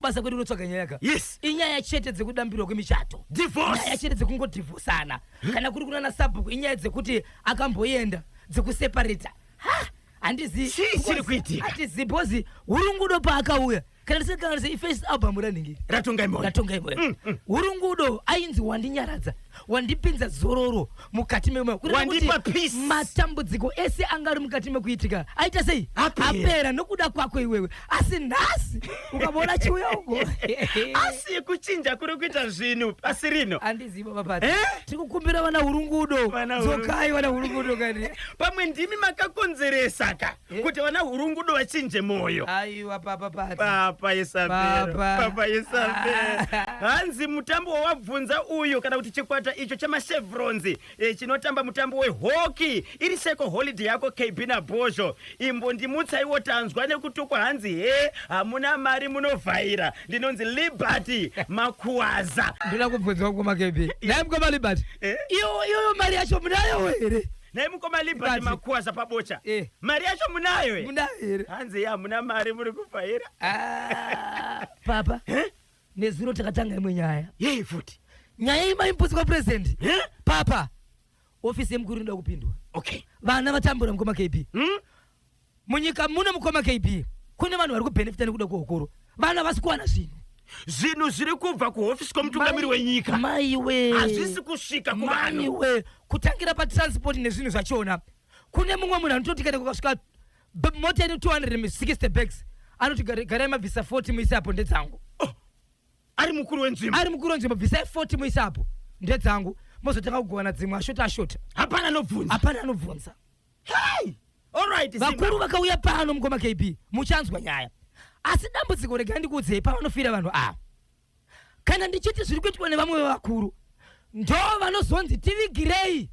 basa kwedu kunotsvaga nyaya ka yes inyaya chete dzekudambirwa kwemichato divorce nyaya chete dzekungodhivhosana kana kuri kunana sabhuku inyaya dzekuti akamboenda dzekuseparata ha handizi Chii chiri kuitika? handizi bhozi hurungudo paakauya kana ndisingakanganise ifirst album ranhingi ratongai moyo ratongai moyo hurungudo ainzi wandinyaradza wandipinza zororo mukati memoyo kureva kuti Wandipa peace. matambudziko ese anga ari mukati mekuitika aita sei Apera. apera nokuda kwako iwewe asi nhasi ukavona achiuya uko asi kuchinja kuri kuita zvinhu pasi rino andiziva papati Eh? tiri kukumbira vana hurungudo Vana hurungudo. dzokai vana hurungudo kani pamwe ndimi makakonzeresa ka Eh. kuti vana hurungudo vachinje moyo aiwa papa pati papa isabhero Papa. papa isabhero hanzi mutambo wawabvunza uyu kana kuti chikwata icho chemachevronz eh, chinotamba mutambo wehockey iri seko holiday yako kb nabhozho imbondimutsaiwo tanzwa nekutukwa hanzi he hamuna mari munovhaira ndinonzi liberty makuwaza ndoda kubvunzwa kukoma kb naye mukoma liberty Eh? iyo iyo mari yacho munayo here Nhai mukoma Liberty Liberty. makuwaza pabocha. Eh. Mari yacho munayo here? Munayo here? Hanzi ya hamuna mari muri kufaira. Ah, papa Eh? nezuro takatanga imwe nyaya Yei futi. nyaya iyi maimbotsi kwa president Eh? papa ofisi yemukuru inoda kupindwa Okay. vana vatambura mukoma kb Hmm? munyika muno mukoma kb kune vanhu vari kubenefita nekuda kwehukuru vana vasi kuwana zvinhu zvinhu zviri kubva kuhofisi kwemutungamiri wenyika maiwe hazvisi kusvika kuvanhu maiwe kutangira patransport nezvinhu zvachona kune mumwe munhu anototi kana kukasvika b- mota ine 260 bags anoti "Gara- garai mabvisa 40 muise apo ndedzangu ari mukuru wenzvimbo ari mukuru wenzvimbo bvisai 40 muise apo ndedzangu mozotanga kugovana dzimwe ashota ashota hapana anobvunza hapana anobvunza Hey! All right, Simba. vakuru vakauya pano mukoma kb muchanzwa nyaya asi dambudziko regai ndikuudzei pavanofira vanhu ava kana ndichiti zviri kuitwa nevamwe vevakuru ndo vanozonzi tivigirei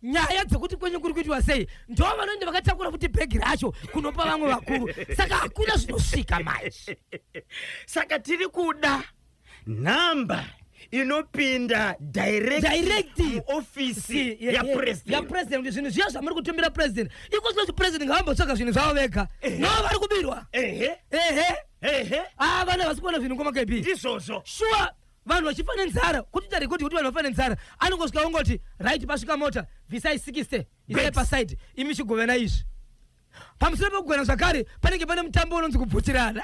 nyaya dzekuti kwenyu kuri kuitwa sei ndo vanoenda vakatakura futi bhegi racho kunopa vamwe vakuru saka hakuna zvinosvika manje Saka tiri kuda nhamba inopinda direct, Direct. muofisi Ye- ye- yapresident yapresident kuti zvinhu zviya zvamuri kutumira president iko zvino president ngavambotsvaga zvinhu zvavo vega Ehe. no vari kubirwa ehe ehe ehe aa vana havasi kuona zvinhu ngoma kb ndizvozvo shuwa vanhu vachifa nenzara kuti tari kuti kuti vanhu vafa nenzara anongosvika ongoti right pasvika mota bvisai 60 isai Breaks. paside imi chigovena izvi pamusoro pekugona zvakare panenge pane mutambo unonzi kubvutirana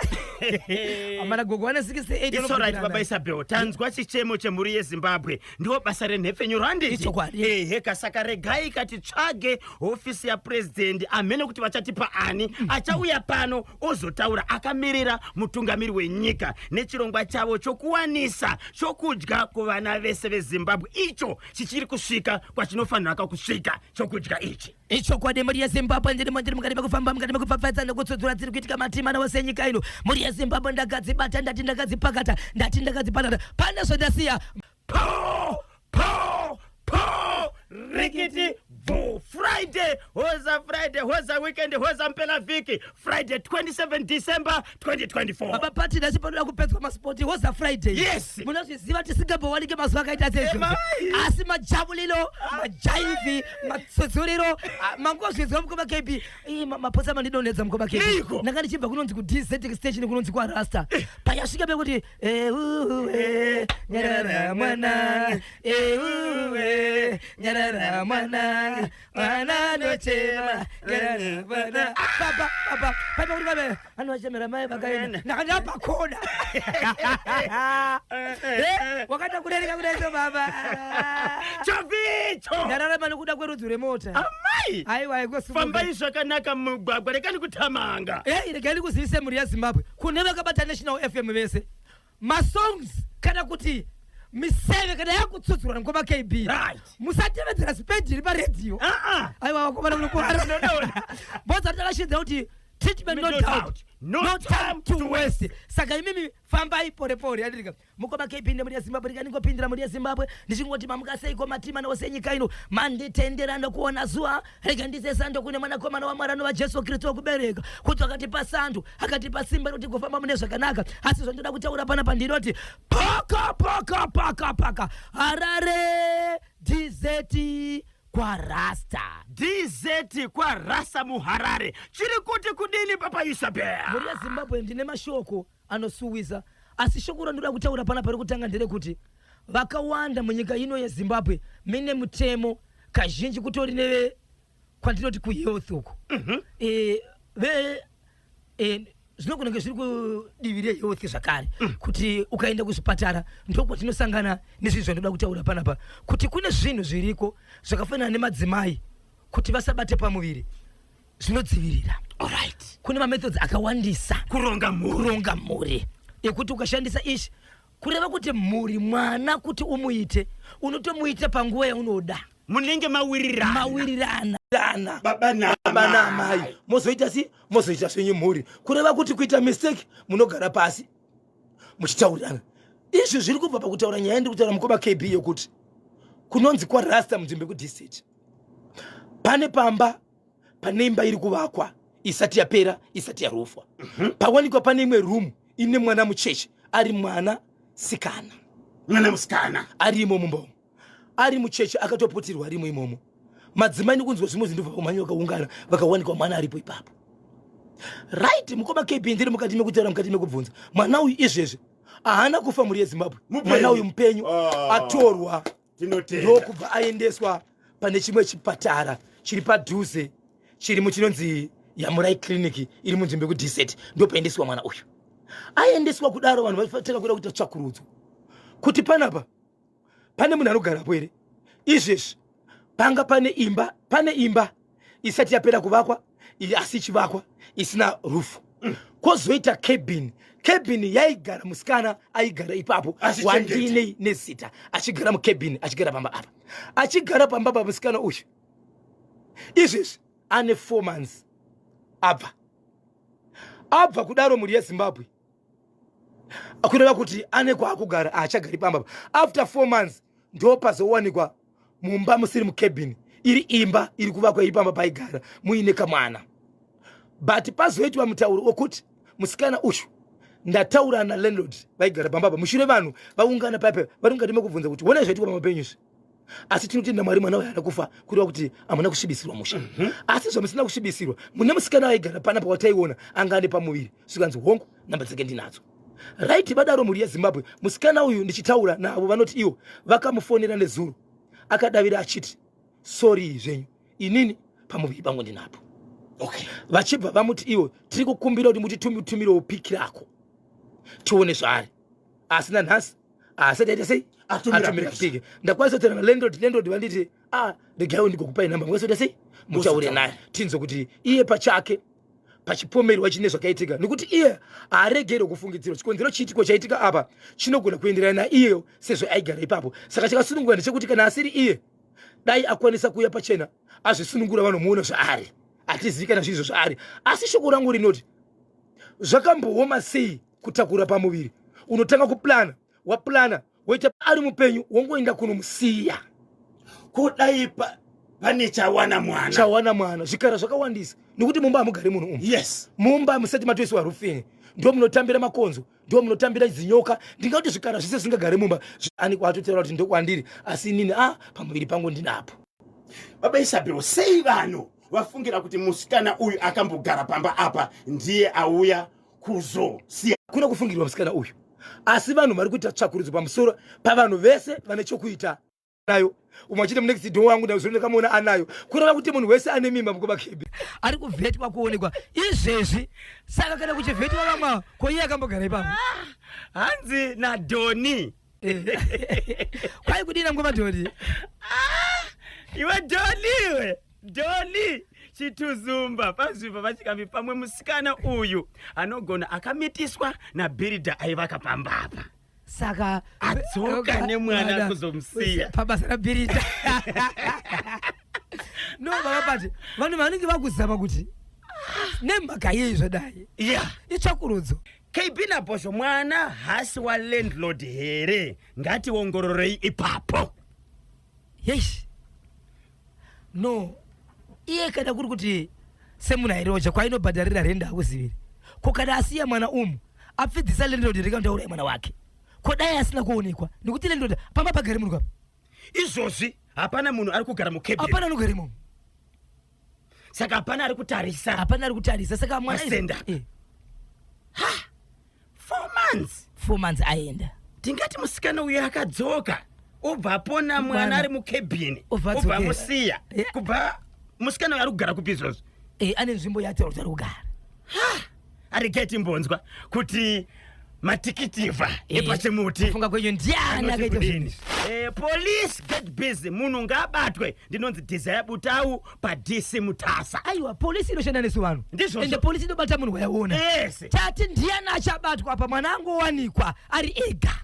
amana gogo vane 68 baba isabel tanzwa chichemo chemhuri yezimbabwe ndiwo basa renhepfenyuro handiehe kasaka regai kati tsvage hofisi yapurezidendi amene kuti vachatipa ani mm. achauya pano ozotaura akamirira mutungamiri wenyika nechirongwa chavo chokuwanisa chokudya kuvana vese vezimbabwe icho chichiri kusvika kwachinofanira kakusvika chokudya ichi Ichokwadi mhuri yeZimbabwe ndiri mandiri mukati mekufamba mukati mekupfapfaidza nekutsudzura dziri kuitika matima nawo senyika ino. Mhuri yeZimbabwe ndakadzibata ndati ndakadzipakata ndati ndakadzipanana pane zvandasiya. Poo! Poo! Poo! Rikiti! Boo! Friday! Hoza Friday! Hoza weekend! Hoza mpela vhiki! Friday 27 December 2024 baba pati ndasi panoda kupedzwa maspoti hoza friday yes munozviziva tisingambowanike mazuva akaita sezvo asi majabulilo majaivhi matsudzuriro mangozvinzwa mukoma kb maposa mandidonedza mukoma kb ndanga ndichibva kunonzi kudz station kunonzi kwarasta eh. payasvika pekuti eh, eh, nyarara mwananga nyarara mwananga vana ndochema baba baba paipa kuti vabe vanhu vachemera mai vakaenda ndakandira pakoda wakaita kurereka kudaiso baba chavicho ndararama nokuda kwerudzi rwemota amai aiwa ikofambai zvakanaka mugwagwa rekani kutamanga ei regai ndikuzivise mhuri yezimbabwe kune vakabata national fm vese masongs kana kuti miseve kana yakutsudzurwa nengoma kb musatevedzera spendi iri paredhiyo aiwa vakomana munokuhara boza takashidza kuti treatment no doubt no time to waste saka imimi fambai pore pore adirika mukoma kb nemuri yezimbabwe ndikandingopindira muri yezimbabwe ndichingoti mamuka seiko matima nawo senyika ino manditendera nekuona zuva rega ndiise sando kune mwanakomana wamwari anova jesu kristu wekubereka kuti wakatipa sando akatipa simba rekuti kufamba mune zvakanaka asi zvandoda kutaura pana pandinoti paka paka paka paka harare dizeti kwarasta dizeti kwarasta muharare chiri kuti kudini papa isabel mhuri yezimbabwe ndine mashoko anosuwisa asi shoko randinoda kutaura panapa rekutanga nderekuti vakawanda munyika ino yezimbabwe mine mutemo kazhinji kutori neve kwandinoti kuhealth uku mhm. eh, ve eh, zvinogona kunge zviri kudivi rehealth zvakare mm. kuti ukaenda kuzvipatara ndokwatinosangana nezvinhu zvandoda kutaura panapa kuti kune zvinhu zviriko zvakafanana nemadzimai kuti vasabate pamuviri zvinodzivirira Alright. kune mamethods akawandisa Kuronga mhuri. kuronga mhuri ekuti ukashandisa ichi kureva kuti mhuri mwana kuti umuite unotomuita panguva yaunoda Munenge mawirirana. mawirirana Dana. Baba na baba naamai mozoita si mozoita zvenyu mhuri kureva kuti kuita mistake munogara pasi muchitaurirana izvi zviri kubva pakutaura nyaya ndiri kutaura mukoma kb yekuti kunonzi kwarasta munzvimbo yekudistate pane pamba pane imba iri kuvakwa isati yapera isati yarofwa mhm. pawanikwa pane imwe room ine mwana mucheche ari mwana sikana mwana musikana ari imomo mbomo ari mucheche akatoputirwa arimo imomo madzimai nekunzwa zvimwe zvinhu vamhanya vakaungana vakawanikwa mwana aripo ipapo right mukoma kb ndiri mukati mekutaura mukati mekubvunza mwana uyu izvezvi haana kufa mhuri yezimbabwe mwana uyu mupenyu ah. atorwa ndokubva aendeswa pane chimwe chipatara chiri padhuze chiri muchinonzi yamurai clinic iri munzvimbo yekudesert ndopaendeswa mwana uyu aendeswa kudaro vanhu vaitanga kuda kuita tsvakurudzo kuti panapa pane munhu anogarapo here izvezvi panga pane imba pane imba isati yapera kuvakwa asi ichivakwa isina rufu kwozoita cabin cabin yaigara musikana aigara ipapo wandiinei nezita achigara mucabin achigara pamba apa achigara pamba pa musikana uyu izvezvi ane four months abva abva kudaro mhuri yezimbabwe kureva kuti ane kwaakugara haachagari pamba after four months ndopazowanikwa mumba musiri mukebhini iri imba iri kuvakwa iri pamba paigara muine kamwana but pazoitwa mutauro wekuti musikana uyu ndataura nalandlord vaigara pambapa mushure vanhu vaungana paipa vari mukati mekubvunza kuti one zvaitikwa pamapenyu izvi asi tinotenda mwari mwana waana kufa kureva kuti hamuna kusvibisirwa musha mhm. asi zvamusina kusvibisirwa mune musikana aigara pana pawataiona anga ane pamuviri zvikanzi hongu namba dzake ndinadzo right vadaro mhuri yezimbabwe musikana uyu ndichitaura navo vanoti ivo vakamufonera nezuro akadavira achiti sori zvenyu inini pamuviri pangu ndinapo okay. vachibva vamuti ivo tiri kukumbira kuti mutitumirewo piki rako tione zvaari asi nanhasi asati aita sei atumira piki ndakwanisa kutaura nalandrod landrod vanditi a ah, regai ndigokupai nhamba mukwanisa kuita sei mutaure naye tinzwe kuti iye pachake pachipomerwa chine zvakaitika nekuti iye haaregerwe kufungidzirwa chikonzero chiitiko chaitika apa chinogona kuenderana naiyeyo sezvo aigara ipapo saka chakasunungura ndechekuti kana asiri iye dai akwanisa kuuya pachena azvisunungura vanomuona zvaari hatizivi kana zviizvo zvaari asi shoko rangu rinoti zvakambooma sei kutakura pamuviri unotanga kuplana waplana weta ari mupenyu wongoenda kunomusiya ko dai pane chawana mwana chawana mwana zvikara zvakawandisa nokuti mumba hamugari munhu umu yes mumba musati matoisiwa rufini ndo munotambira makonzo ndo munotambira zinyoka ndingati zvikara zvese zvingagari mumba ani kwatotaura kuti ndokwandiri asi inini a ah, pamuviri pangu ndinapo baba isabhiro sei vanhu vafungira kuti musikana uyu akambogara pamba apa ndiye auya kuzosiya kuna kufungirwa musikana uyu asi vanhu vari kuita tsvakurudzo pamusoro pavanhu vese vane chokuita nayo umwe achiti munext door wangu ndazonekamuona anayo kureva kuti munhu wese ane mimba mukuba kb ari kuvhetwa kuonekwa izvezvi saka kana kuchivhetwa vamwa ko iye akambogara ipapo hanzi nadoni kwai kudina ngoma doli ah, iwe doli iwe doli chituzumba pazvibva vachikambi pamwe musikana uyu anogona akamitiswa nabhiridha aivaka pamba apa saka adzoka nemwana kuzomusiya pabasa rabhiridha no baba pati vanhu vanenge vakuzama kuti nemhaka yei zvadai yeah. itsvakurudzo KB Nabhozho mwana hasi wa landlord here ngationgororei ipapo yes no iye kana kuri kuti semuna iroja kwainobhadharira renda akuziviri ko kana asiya mwana umu apfidzisa landlord here kana kuti auraya mwana wake ko dai asina kuonekwa nekuti landlord pamba pagari munhu kapa izvozvi hapana munhu ari kugara mukebheni apana anogara imomo saka hapana ari kutarisa hapana ari kutarisa saka mwana asenda eh. ha four months four months aenda tingati musikana uyo akadzoka obva apona mwana ari mukebhini obva amusiya eh. kubva musikana uyo ari kugara kupi izvozvo eh, ane nzvimbo yati ari kugara aregeti mbonzwa kuti matikitivha epachimuti funga kwenyu ndiani akaita zvinhu izvi? Eh, police get busy munhu ngaabatwe ndinonzi desire butau padc mutasa aiwa polisi inoshanda nesu vanhu Ndizvozvo. ende polisi inobata munhu wayaona yes tati ndiani achabatwa apa mwana angowanikwa ari ega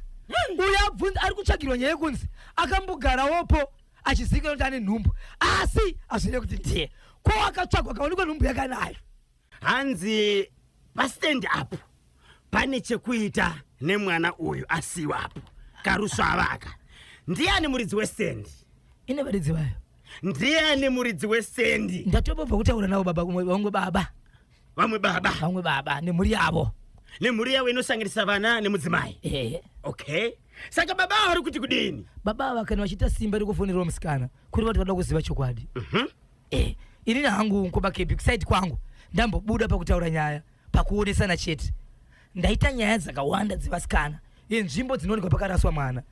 uyo abvunza ari kutsvagirwa nyaya yekunzi akambogarawopo achizivikanwa kuti ane nhumbu asi hazvive kuti ndiye ko akatsvagwa akaonekwa nhumbu yakanayo hanzi pastand up pane chekuita nemwana uyu asiwapo karusvavaka ndiani muridzi westand ine varidzi vayo ndiani muridzi westand ndatobobva kutaura navo baba kumwe vamwe baba vamwe baba vamwe baba nemhuri yavo nemhuri yavo inosanganisa vana nemudzimai ehe okay saka baba avo vari kuti kudini baba ava kana vachiita simba rekufonerwa musikana kuri vati vada kuziva chokwadi Mhm. Eh, ini na hangu unko bakepi kusaidi kwangu ndambobuda pakutaura nyaya pakuonesana chete. Ndaita nyaya dzakawanda dzevasikana yenzvimbo dzinoonekwa pakaraswa mwana.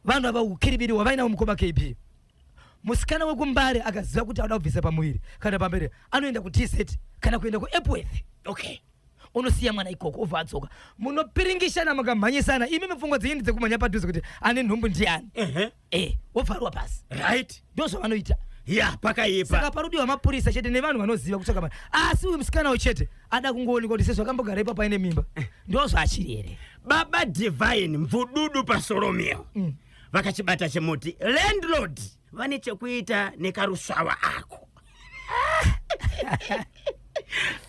Vanhu ava ukiribiri wavainawo mukoma KB. Musikana wekumbare akaziva kuti anoda kubvisa pamuviri kana pamberi anoenda kuTZ kana kuenda kuEpworth. Okay. unosiya mwana ikoko obva adzoka munopiringishana mukamhanyisana imi mipfungwa dzenyu ndedzekumhanya padhuze kuti ane nhumbu ndiani uh -huh. eh wobvarwa pasi right ndozvavanoita ya pakaipa saka panodiwa mapurisa chete nevanhu vanoziva kutsvaka vanhu asi uyu musikana uyu chete ada kungoonekwa kuti sezvakambogara ipapo aine mimba eh. ndozvaachiri here baba divine mvududu pasoromio mm. vakachibata chemuti landlord vane chekuita nekarusvava ako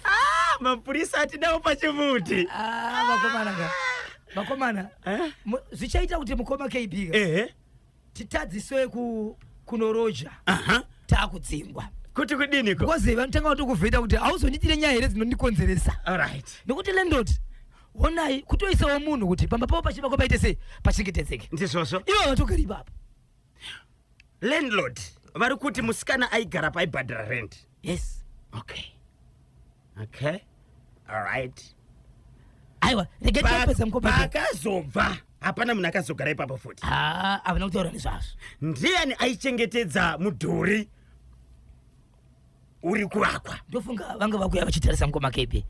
Ah, mapurisa atidawo pachimuti Ah, vakomana ka vakomana Eh? mu- zvichaita kuti mukoma kb ka ehe titadziswe ku kunoroja aha takudzingwa kuti kudiniko because vanotanga vatokuvheta kuti hauzondiitire nyaya here dzinondikonzeresa alright nekuti landlord honai kutoisawo munhu kuti pamba pavo pachivakwa paite sei pachengetedzeke ndizvozvo ivo vatogara ipapo landlord vari kuti musikana aigara paibhadhara rent yes okay okay alright aiwa regai tiapedza mukopa paakazobva hapana munhu akazogara ipapo futi haa havana kutaura nezvazvo ndiani aichengetedza mudhuri uri kuvakwa ndofunga vanga vakuya vachitarisa mukoma kebe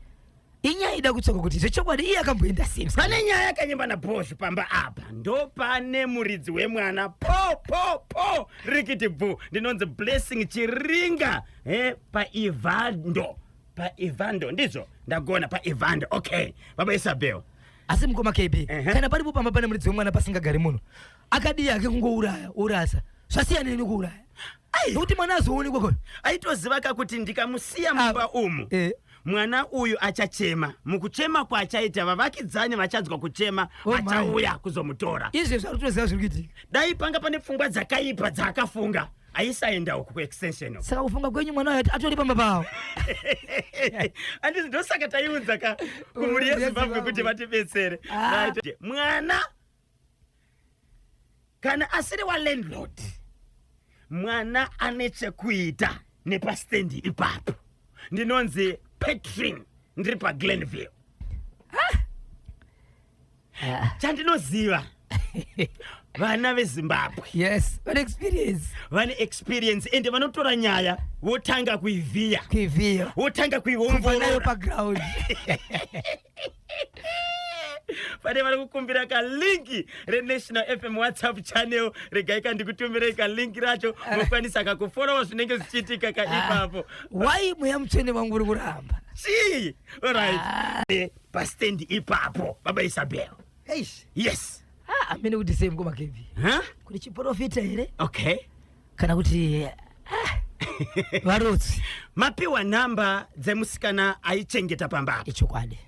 inyaya ida kutsoka kuti zvechokwadi iye akamboenda sei pane nyaya yakanyimba nabhozhu pamba apa ndopane muridzi wemwana po po po rikiti bvu ndinonzi blessing chiringa he paivando paivando ndizvo ndagona paivando okay baba isabel asi mukoma kb uh -huh. kana paripo pamba pane muridzi wemwana pasingagari munhu akadii ake kungouraya urasa zvasiyanei nekuuraya nokuti mwana azoonekwa ko aitoziva ka kuti ndikamusiya ah, mumba umu eh. mwana uyu achachema mukuchema kwaachaita vavakidzani vachanzwa kuchema oh, achauya kuzomutora izvi zviri kutoziva zviri kuitika dai panga pane pfungwa dzakaipa dzaakafunga aisaenda uku kuextension saka kufunga kwenyu mwana uyo atori pamba pawo andizi ndosaka taiunza ka kumhuri yezimbabwe kuti vatibetsere ah. mwana kana asiri walandlord mwana ane chekuita nepasitendi ipapo ndinonzi patrin ndiri paglenville chandinoziva vana vezimbabwe yes vane experience vane experience ende vanotora nyaya votanga kuivhiya kuivhiya votanga kuiongorora paground pane vari kukumbira kalinki renational fm whatsapp channel regai kandikutumirei kalinki racho ah. mokwanisa kakuforowa zvinenge zvichiitika ka ah. ipapo wai mweya mutsvene vangu uri kuramba chii orit ah. eh, pastendi ipapo baba isabel yes amene kuti sei mukoma kevi kune chiporofita here okay kana kuti ah, varutsi mapiwa nhamba dzemusikana aichengeta pamba apa ichokwadi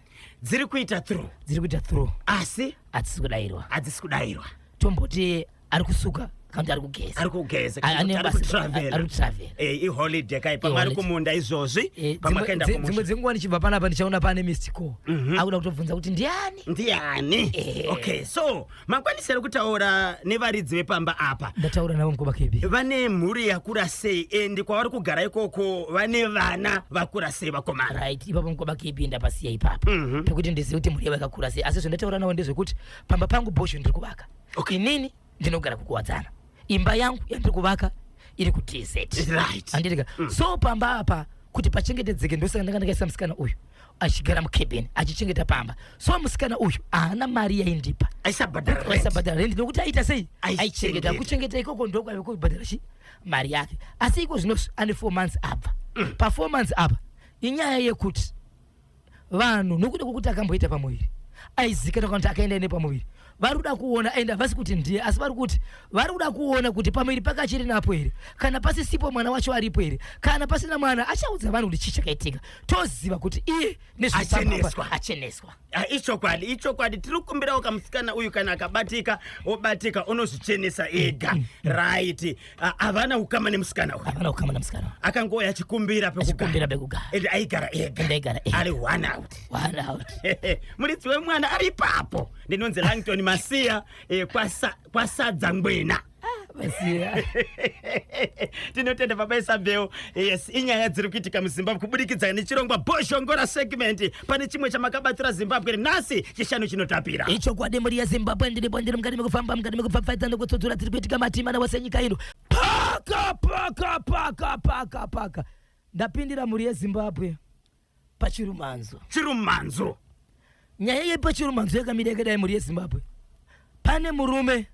dziri kuita through dziri kuita through asi hadzisi kudairwa hadzisi kudairwa tomboti ari kusuka kana kuti ari kugeza ari kugeza A- ane ari basa- kutravel ari kutravel. Eh, iholiday kai pamwe ari Iholiday. kumunda izvozvi Eh, pamwe dzimwe- akaenda dzi- dzimwe kumusha dzenguva ndichibva panapa ndichaona pane mistiko Mhm. akuda kutobvunza kuti ndiani ndiyani Ehe. okay so makwanisa here kutaura nevaridzi vepamba apa ndataura navo mukoma kebi vane mhuri yakura sei endi kwavari kugara ikoko vane vana vakura sei vakomana right ipapo mukoma kebi ndapasiya ipapa Mhm. pekuti ndizive kuti mhuri yavo yakakura sei asi zvandataura navo ndezvekuti pamba pangu bosho ndiri kuvaka Okay. inini ndinogara kukuwadzana imba yangu yandiri kuvaka iri kutz Right. andirika so pamba apa kuti pachengetedzeke ndosaka ndanga ndakaisa musikana uyu achigara mukebeni achichengeta pamba so musikana uyu haana mari yaindipa aisabhadhara rendi nokuti aita sei aichengeta kuchengeta ikoko ndokwave kubhadhara chi mari yake asi iko zvino ane four months abva mm. pafour months apa inyaya yekuti vanhu nokuda kwokuti akamboita pamuviri aizikana kana kuti akaenda nepamuviri vari kuda kuona and havasi kuti ndiye asi vari kuti vari kuda kuona kuti pamuviri pake achiri napo here kana pasisipo mwana wacho aripo here kana pasina mwana achaudza vanhu kuti chii chakaitika toziva kuti iye Acheneswa. acheneswa Ah, ichokwadi ichokwadi tiri kukumbirawo kamusikana uyu kana akabatika obatika unozvichenesa ega right Ah, havana ukama nemusikana uyu havana ukama nemusikana uyu. akangouya achikumbira Achikumbira pekugara. and aigara ega And aigara ega. ari one out One out. muridzi wemwana ari ipapo ndinonzi langton masiya eh, kwasa- kwasadza ngwena Masiya. tinotenda baba isabel yes inyaya dziri kuitika muzimbabwe kubudikidza nechirongwa boshongora segment pane chimwe chamakabatsira zimbabwe nhasi chishanu chinotapira ichokwadi mhuri yezimbabwe ndiri bwandiri mukati mekufamba mukati mekupfapfaidza nekutsudzura tiri kuitika matimana wese nyika ino paka paka paka paka paka ndapindira mhuri yezimbabwe pachirumanzo chirumanzo nyaya yepachirumanzo yakamira yakadai mhuri yezimbabwe pane murume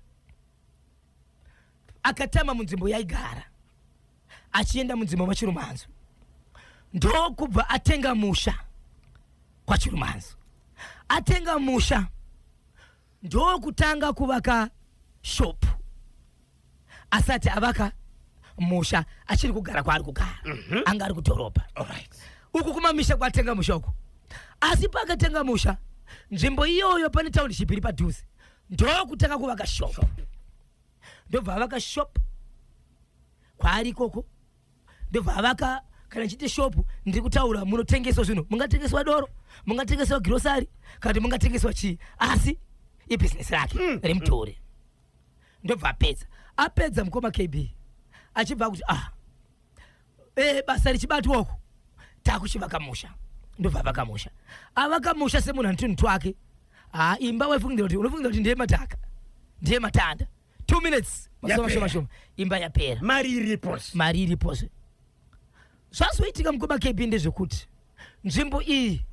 akatama munzvimbo yaigara achienda munzvimbo machirumanzo ndokubva atenga musha kwachirumanzo atenga musha ndokutanga kuvaka shopu asati avaka musha achiri kugara kwaari kugara mm -hmm. anga ari kudhorobha right. uku kumamisha kwatenga musha uku asi paakatenga musha nzvimbo iyoyo pane township iri padhuze ndokutanga kuvaka shop ndobva avaka shop kwaari ikoko ndobva avaka kana chiti shop ndiri kutaura munotengeswa zvinhu mungatengeswa doro mungatengeswa girosari kana kuti mungatengeswa chii asi ibhizinesi rake mm. rimutore mm. ndobva apedza apedza mukoma kb achibva akuti ah e, basa richibatwa uku takuchivaka musha ndobva avaka musha avaka musha semunhu antunhu twake ha imba waifungira kuti unofungira kuti ndiye mataka ndiye matanda two minutes mashomashoma imba yapera mari iripos mari iripos zvazoitika mukoma kb ndezvekuti nzvimbo iyi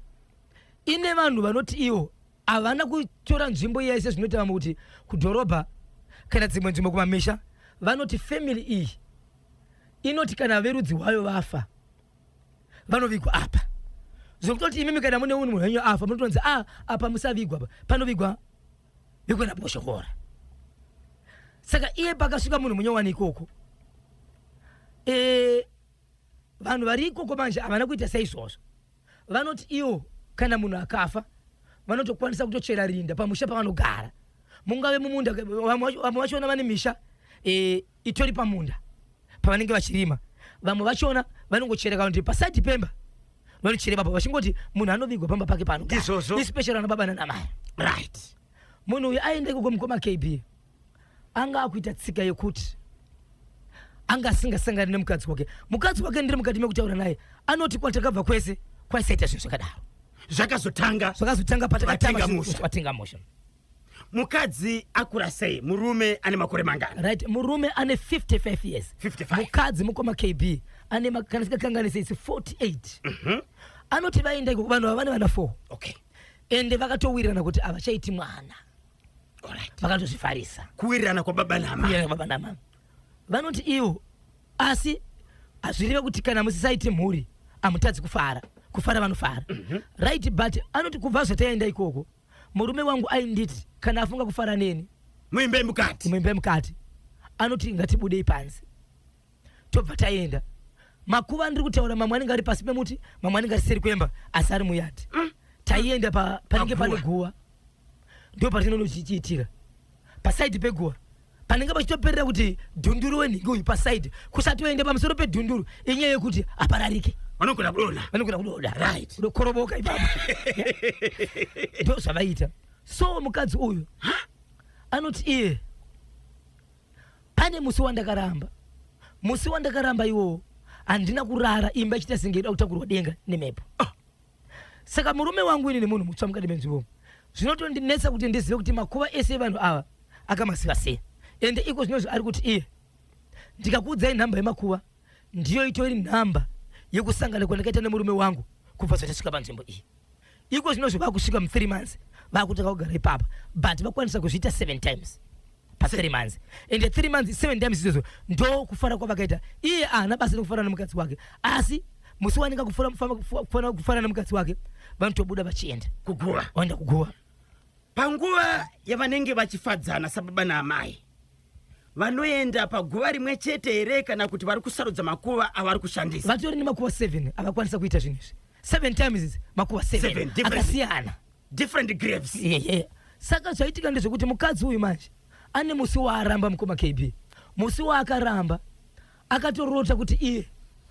ine vanhu vanoti iwo havana kutora nzvimbo iya ise zvinoita vamwe kuti kudhorobha kana dzimwe nzvimbo kumamisha vanoti family iyi inoti kana verudzi wayo vafa vanovigwa apa zvokutoti imimi kana mune unhu henyu afa munotonzi a ah, apa musavigwa panovigwa vigwa naboshokora saka iye pakasvika munhu munyowani ikoko e, vanhu vari ikoko manje havana kuita seizvozvo Vanoti ivo kana munhu akafa vanotokwanisa kutochera rinda pamusha pavanogara mungave mumunda vamwe vachona vane misha e, itori pamunda pavanenge vachirima vamwe vachona vanongochera kana kuti pasaidi pemba vanochere baba vachingoti munhu anovigwa pamba pake pano especially ana baba nanamai right munhu uyu aende kuko mukoma kb anga akuita tsika yekuti anga asingasangani nemukadzi wake mukadzi wake ndiri mukati mekutaura naye anoti kwatakabva kwese kwaisaita zvinhu zvakadaro zvakazotanga zvakazotanga patakatanga musha mukadzi akura sei murume ane makore mangana right murume ane 55 years 55 mukadzi mukoma kb ane kana sikakanganisa isi 48 mm -hmm. anoti vaenda vanhu ava vane vana 4 okay ende vakatowirirana kuti havachaiti mwana vakatozvifarisa kuwirirana kwababa namama vanoti ivo asi hazvireve kuti kana musisaiti mhuri hamutadzi kufara kufara vanofara mhm. right but anoti kubva zvataenda ikoko murume wangu ainditi kana afunga kufara neni muimbe mukati muimbe mukati anoti ngatibudei panze tobva taenda makuva andiri kutaura mamwe anenge ari pasi pemuti mamwe anenge ari seri kwemba asi ari muyati mm. taienda pa, panenge pane guva ndo patinono chichiitira pasaidi peguva panenge pachitoperera kuti dhunduru wenhingi uyu pasaidi kusatoenda pamusoro pedhunduru inyaya yekuti apararike vanogona kudonha vanogona kudonha right kudokoroboka ipapo ndo zvavaita so mukadzi uyu anoti iye Pane musi wandakaramba, musi wandakaramba iwowo handina kurara, imba ichita senge ida kutakurwa denga nemhepo. Ah. Saka murume wangu ini nemunhu mutsva mukati menzvimbo zvinotondinetsa kuti ndizive kuti makuva ese evanhu ava akamaziva sei, ende iko zvinozvo ari kuti iye ndikakuudzai nhamba yemakuva ndiyo itori nhamba yekusangana kwandakaita nemurume wangu kubva zvatasvika panzvimbo iyi iko zvino zvava kusvika muthree months vakutanga kugara ipapa but vakwanisa kuzviita seven times pathree months and three months seven times izvozvo ndo kufara kwavakaita iye ahana basa nekufana nemukadzi wake asi musi waninga kufana nemukadzi wake vanotobuda vachienda kuguva vaenda kuguva panguva yavanenge vachifadzana sababa naamai vanoenda paguva rimwe chete here kana kuti vari kusarudza makuva avari kushandisa vatori nemakuva 7 avakwanisa kuita zvinhu izvi 7 times izi makuva 7 akasiyana different graves yeah, yeah. saka zvaitika ndezvekuti mukadzi uyu manje ane musi waaramba mukoma kb musi waakaramba akatorota kuti iye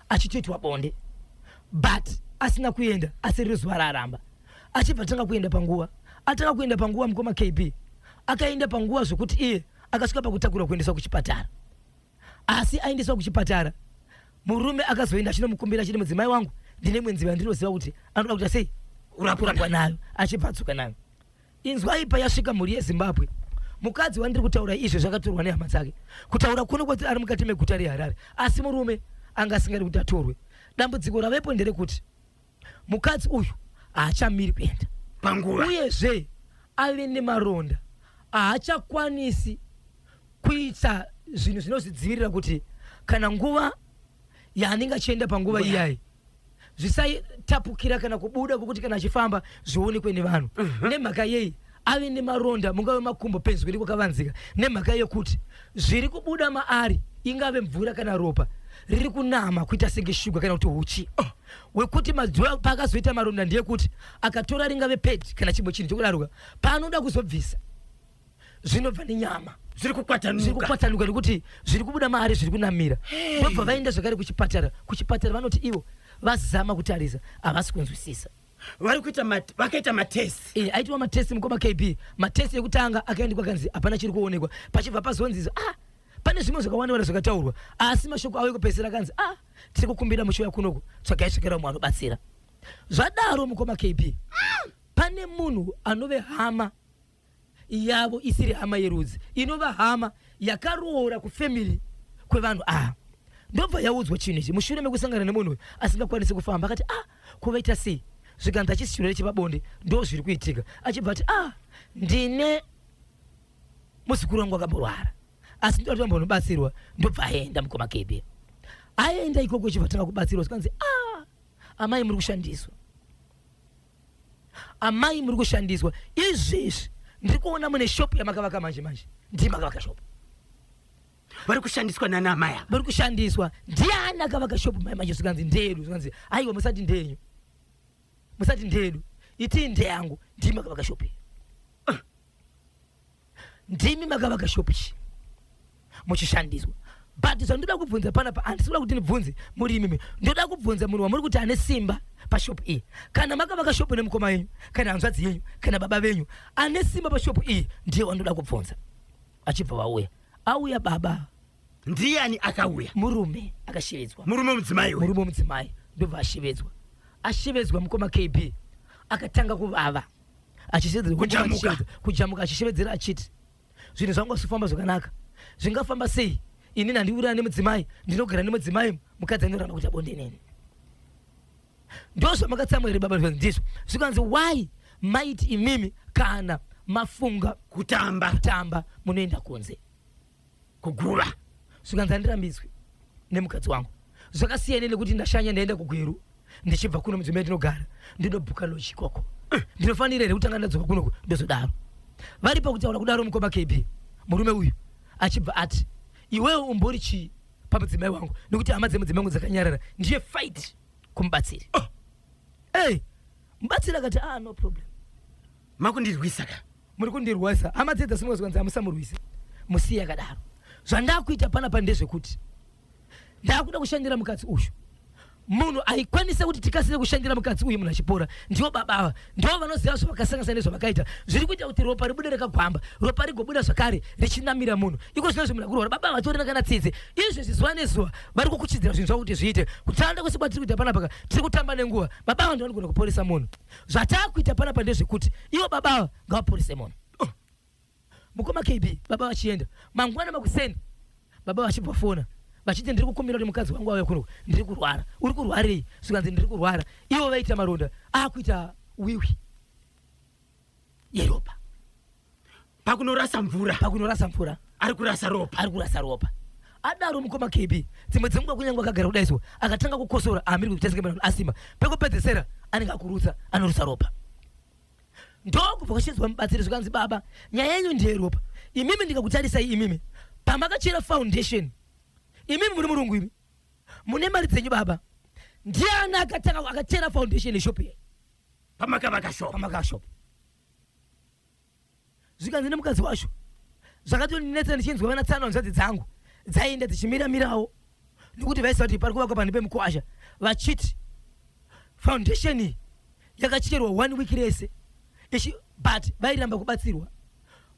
achitoitwa bonde but asina kuenda asi riri zuva raaramba achibva atanga kuenda panguva atanga kuenda panguva mukoma kb akaenda panguva zvokuti iye akasvika pakutakurwa kuendeswa kuchipatara asi aendeswa kuchipatara murume akazoenda achinomukumbira achiti mudzimai wangu ndine mwenzi vandinoziva kuti anoda kuita sei kurapwa nayo achibva adzoka nayo Inzwai payasvika mhuri yeZimbabwe. Mukadzi wandiri kutaura izvo zvakatorwa nehama dzake. Kutaura kuno kwati ari mukati meguta reHarare asi murume anga asingadi kuti atorwe. Dambudziko ravepo nderekuti mukadzi uyu haachamiri kuenda panguva uyezve ave nemaronda haachakwanisi kuita zvinhu zvinozvidzivirira kuti kana nguva yaanenge achienda panguva iyayi zvisatapukira kana kubuda kwokuti kana achifamba zvionekwe nevanhu mhm. nemhaka yei ave nemaronda mungave makumbo penzwi iri kwakavanzika nemhaka yekuti zviri kubuda maari ingave mvura kana ropa riri kunama kuita senge shuga kana kuti huchi oh. wekuti mazuva paakazoita maronda ndeyekuti akatora ringave pedi kana chimwe chinhu chokudaroka paanoda kuzobvisa zvinobva nenyama zviri kukwatanuka nekuti zviri kubuda maari zviri kunamira vobva vaenda zvakare kuchipatara kuchipatara vanoti ivo vazama kutarisa havasi kunzwisisa vari kuita vakaita matest eh, aitwa matest mukoma kb matest ekutanga akaendekwa kanzi hapana chiri kuonekwa pachibva pazonzizo ah pane zvimwe zvakawanda wanda zvakataurwa asi mashoko avo ekupedzisira kanzi ah tiri kukumbira muchiuya kunoku tsvagai tsvakira umwe anobatsira zvadaro mukoma kb ah! pane munhu anove hama yavo isiri hama yerudzi inova hama yakaroora kufamily kwevanhu ava ndobva yaudzwa chinhu ichi mushure mekusangana nemunhu uyu asingakwanisi kufamba akati ah kuvaita sei zvikanzi achisi chirwere chepabonde ndo zviri kuitika achibva ati ah ndine muzukuru wangu akamborwara asi ndoti vambonobatsirwa ndobva aenda mukoma kebe aenda ikoko chibva tanga kubatsirwa zvikanzi ah amai muri kushandiswa Amai muri kushandiswa izvezvi ndiri kuona mune shop yamakavaka manje manje ndiye makavaka shop vari kushandiswa nana amai ava vari kushandiswa ndiani akavaka shop mai manje zvikanzi ndedu zvikanzi aiwa musati ndenyu musati ndedu itii ndeyangu ndiye makavaka shop iyi ndimi makavaka shop ichi muchishandiswa but zvandoda kubvunza panapa handisi kuda kuti ndibvunze muri imimi ndoda kubvunza munhu wamuri kuti ane simba pashopu iyi kana makavaka shopu nemukoma yenyu kana hanzvadzi yenyu kana baba venyu ane simba pashopu iyi ndiye wandoda kubvunza achibva vauya auya baba ndiyani akauya murume akashevedzwa murume mudzimai murume mudzimai ndobva ashevedzwa ashevedzwa mukoma kb akatanga kuvava achiedza kujamuka achishevedzera achiti zvinhu zvangu asifamba zvakanaka zvingafamba sei ini nandiurana nemudzimai ndinogara nemudzimai mukadzi anoramba kuita bonde neni ndozvamakatsamwa here baba ndizvo zvikanzi why maiti imimi kana mafunga kutamba kutamba munoenda kunze kuguva zvikanzi handirambidzwi nemukadzi wangu zvakasiyana nekuti ndashanya ndaenda kugweru ndichibva kuno mudzimba yatinogara ndinobhuka loji ikoko eh. ndinofanira here kutanga ndadzoka kunoko ndozodaro vari pakutaura kudaro mukoma kb murume uyu achibva ati iwewo umbori chii pamudzimai wangu nekuti hama dzemudzimai wangu dzakanyarara ndiye fight kumubatsiri oh. ey mubatsiri akati ah no problem makundirwisa ka muri kundirwisa hama dzedza simwe zvikanzi hamusamurwise musiye akadaro zvandakuita panapa ndezvekuti ndakuda kushandira mukadzi uyu munhu aikwanisa kuti tikasire kushandira mukadzi uyu munhu achipora ndiwo baba ava ndiwo vanoziva zvavakasangasana nezvavakaita zviri kuita kuti ropa ribude rakagwamba ropa rigobuda zvakare richinamira munhu iko zvino zvemunhu akurwara baba ava vatorina kana tsitsi izvi zvizuva nezuva vari kukuchidzira zvinhu zvavo kuti zviite kutanda kwese kwatiri kuita panapaka tiri kutamba nenguva baba ava ndivanogona kuporesa munhu zvatakuita panapa ndezvekuti ivo baba ava ngavaporise munhu oh. mukoma kb baba vachienda mangwana makuseni baba vachibva fona vachiti ndiri kukumbira kuti mukadzi wangu auya kuno ndiri kurwara uri kurwarei zvikanzi ndiri kurwara ivo vaita maronda akuita wiwi yeropa pakunorasa mvura pakunorasa mvura ari kurasa ropa ari kurasa ropa adaro mukoma kb dzimwe dzenguva kunyange akagara kudai so akatanga kukosora amiri kuita senge mwana asimba pekupedzesera anenge akurutsa anorutsa ropa ndokubva kwachinzwa mubatsiri zvikanzi baba nyaya yenyu ndeyeropa imimi ndikakutarisai imimi pamakachera foundation imimi muri murungu imi mune mari dzenyu baba ndiani akatanga akachera foundation yeshop ye pamakavaka shop pamakavaka shop zvikanzi nemukadzi wacho zvakatondinetsa ndichinzwa vana tsano hanzvadzi dzangu dzaienda dzichimira mirawo nokuti vaisa kuti pari kuvakwa panhu pemukwasha vachiti foundation iyi yakacherwa one week rese ichi but vairamba kubatsirwa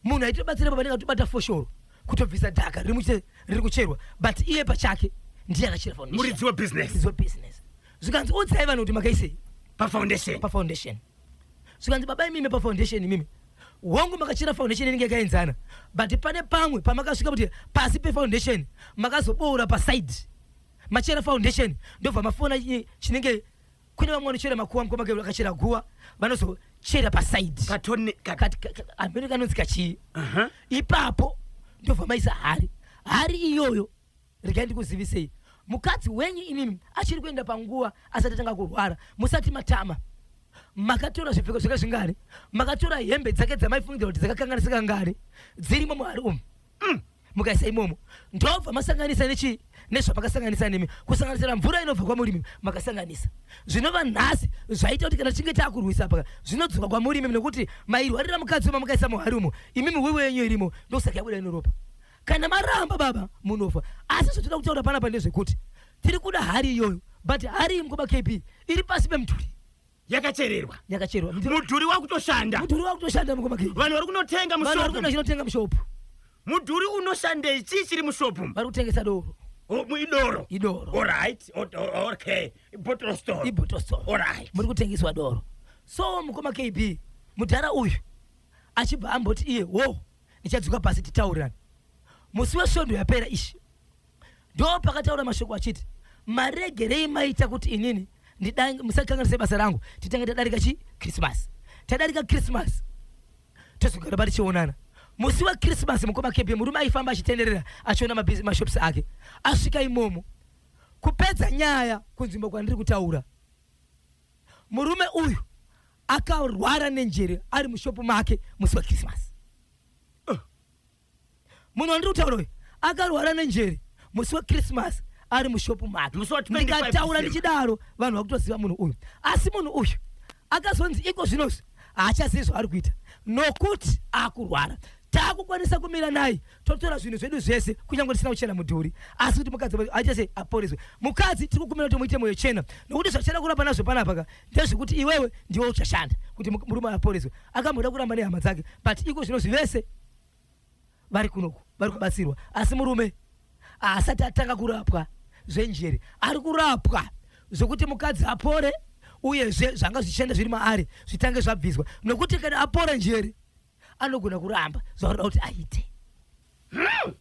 munhu aitobatsira pa vanenge atobata foshoro kutobvisa dhaka riri muche- riri kucherwa but iye pachake ndiye akachera foundation. muridzi webusiness Muridzi webusiness zvikanzi udzai vanhu kuti makaisei pafoundation pafoundation zvikanzi baba imimi pafoundation imimi hongu makachera foundation inenge yakaenzana but pane pamwe pamakasvika kuti pasi pefoundation makazoboora paside machera foundation ndobva mafona chinenge kune vamwe vanochera makuwa mukoma ke vakachera guwa vanozochera paside amene kanonzi kachii ipapo ndobva maisa hari hari iyoyo regai ndikuzivisei mukadzi wenyu inini achiri kuenda panguva asati atanga kurwara musati matama makatora zvipfeko zvake zvingari makatora hembe dzake dzamaifungira kuti dzakakanganisika ngari dzirimo muhari umu mm. mukaisa imomo ndobva masanganisa nechii nezvamakasanganisa nemi kusanganisira mvura inobva kwamurimi makasanganisa zvinova nhasi zvaita kuti kana tichinge taakurwisa paka zvinodzoka kwamurimi nekuti mairwarira mukadzi wema mukaisa muhari umo imimi wewe yenyu irimo ndokusaka yabuda inoropa kana maramba baba munofa asi zvatinoda kutaura panapa ndezvekuti tiri kuda hari iyoyo but hari imkoba kb iri pasi pemudhuri yakachererwa yakachererwa mudhuri wakutoshanda mudhuri wakutoshanda mkoba kb vanhu vari kunotenga mushopvachinotenga mushopu mudhuri unoshandei chii chiri mushopu vari kutengesa doro idoro idoro orit okay ibottle store ibottle store orit muri kutengeswa doro so mukoma kb mudhara uyu achibva amboti iye wo ndichadzoka pasi titaurirane musi wesvondo yapera ishi ndo pakataura mashoko achiti maregerei maita kuti inini musakanganise basa rangu titange tadarika chi krismas tadarika krismas tozogara pa tichionana musi wekrismas mukoma kebie murume aifamba achitenderera achiona mashops ake asvika imomo kupedza nyaya kunzvimbo kwandiri kutaura Murume uyu akarwara nenjere ari mushopu make musi wekrisimasi. Uh. Munhu wandiri kutaura uyu akarwara nenjere musi wekrisimasi ari mushopu make. Ndikataura ndichidaro vanhu vakutoziva munhu uyu. Asi munhu uyu akazonzi iko zvinozvi haachazivi zvaari kuita nokuti akurwara takukwanisa kumira naye totora zvinhu zvedu zvese kunyange tisina kuchena mudhuri asi kuti mukadzi aite sei aporeswe mukadzi tiri kukumira kuti muite moyo chena nokuti zvatichada kuramba nazvo panapa ka ndezvekuti iwewe ndiwe uchashanda kuti murume aporeswe akamboda kuramba nehama dzake but iko zvino zvivese vari kunoku vari kubatsirwa asi murume haasati atanga kurapwa zvenjere ari kurapwa zvekuti mukadzi apore uyezve zvanga zvichienda zviri maari zvitange zvabviswa nokuti kana apora njere anogona kuramba zvaurira kuti aite hmm.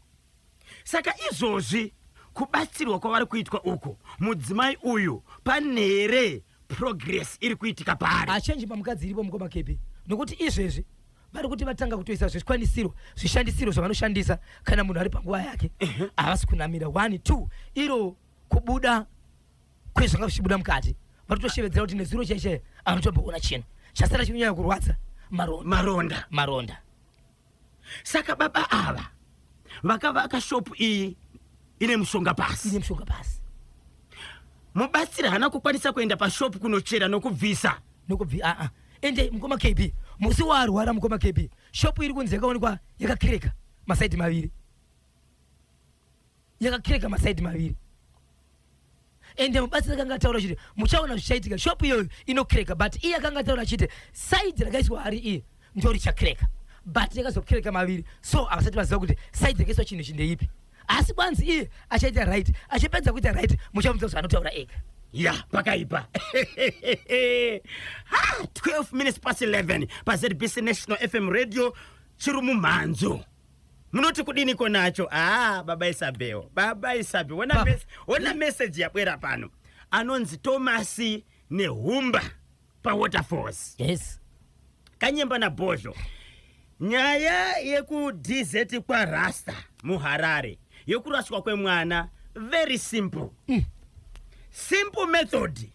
Saka izvozvi kubatsirwa kwavari kuitwa uku mudzimai uyu pane here progress iri kuitika paari? Hachenji pamukadzi iripo mukoma Kepi nokuti izvezvi vari kuti vatanga kutoisa zvikwanisiro zvishandisiro zvavanoshandisa kana munhu ari panguva yake havasi kunamira one two iro kubuda kwezvanga zvichibuda mukati vatotoshevedzera kuti nezuro chaichaiye anotomboona chinhu chasara chinyanya kurwadza maronda maronda maronda saka baba ava vakavaka shop iyi ine mushonga pasi ine mushonga pasi mubatsiri haana kukwanisa kuenda pashop kunochera nokubvisa nokubvi aa ah, ah. ende mukoma kb musi waarwara mukoma kb shop iri kunzi yakaonekwa yakakireka masaidi maviri yakakireka masaidi maviri ende mubatsiri akanga ataura chiti muchaona zvichaitika shop iyoyo inokreka but iye akanga ataura chiti saidi rakaiswa hari iye ndo richakreka but yakazokreka maviri so havasati vaziva kuti saidi rakaiswa chinhu chindeipi asi kwanzi iye achaita right achipedza kuita right muchamuita zvaanotaura ega ya pakaipa 12 ah, minutes past 11 pazbc national fm radio chiri mumhanzo Munoti kudiniko nacho? Haa baba Isabel, baba Isabel, wona, Baba. mes wona message yabwera pano. Anonzi Thomas Nehumba paWaterfalls. Yes. Kanyemba naBhozho. Nyaya yekuDZ kwaRasta muHarare yokuraswa kwemwana very simple. Simple method.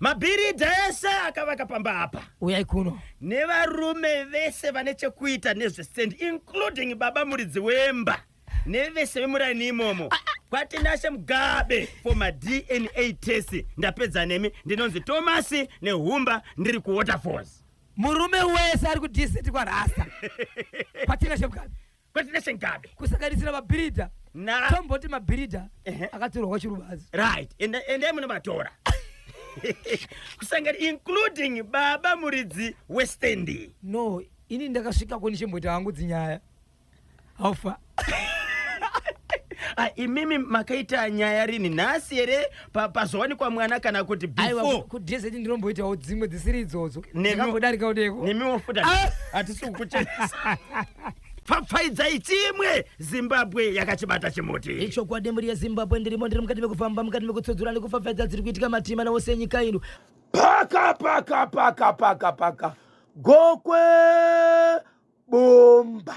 Mabhiridha ese akavaka pamba apa. Uyai kuno. Nevarume vese vane chekuita nezvestand including baba muridzi wemba nevese vemuraini imomo. Ah, ah. Kwatinashe Mugabe for ma DNA test ndapedza nemi ndinonzi Thomas nehumba ndiri ku Waterfalls. Murume wese ari ku DZ kwa Rasta. Kwatinashe Mugabe. kwete nesengabe kusanganisira mabhiridha na tomboti mabhiridha Ehe. akatorwa kwachirubazi right ende ende munovatora kusangana including baba muridzi westendi no ini ndakasvika ko ndichimboita hangu dzinyaya haufa Ah, imimi makaita nyaya rini nhasi here pa- pazowanikwa mwana kana kuti aiwa before kudz ndinomboitawo dzimwe dzisiri idzodzo Neka- ndinongodarika kudeko nemiwo futi Ah! hatisi kukuchenesa pfapfaidzai chimwe zimbabwe yakachibata chimuti ichokwadi mhuri yezimbabwe ndirimo ndiri mukati mekufamba mukati mekutsodzura nekufafadza dziri kuitika matima nawo senyika ino paka paka paka paka paka gokwe bomba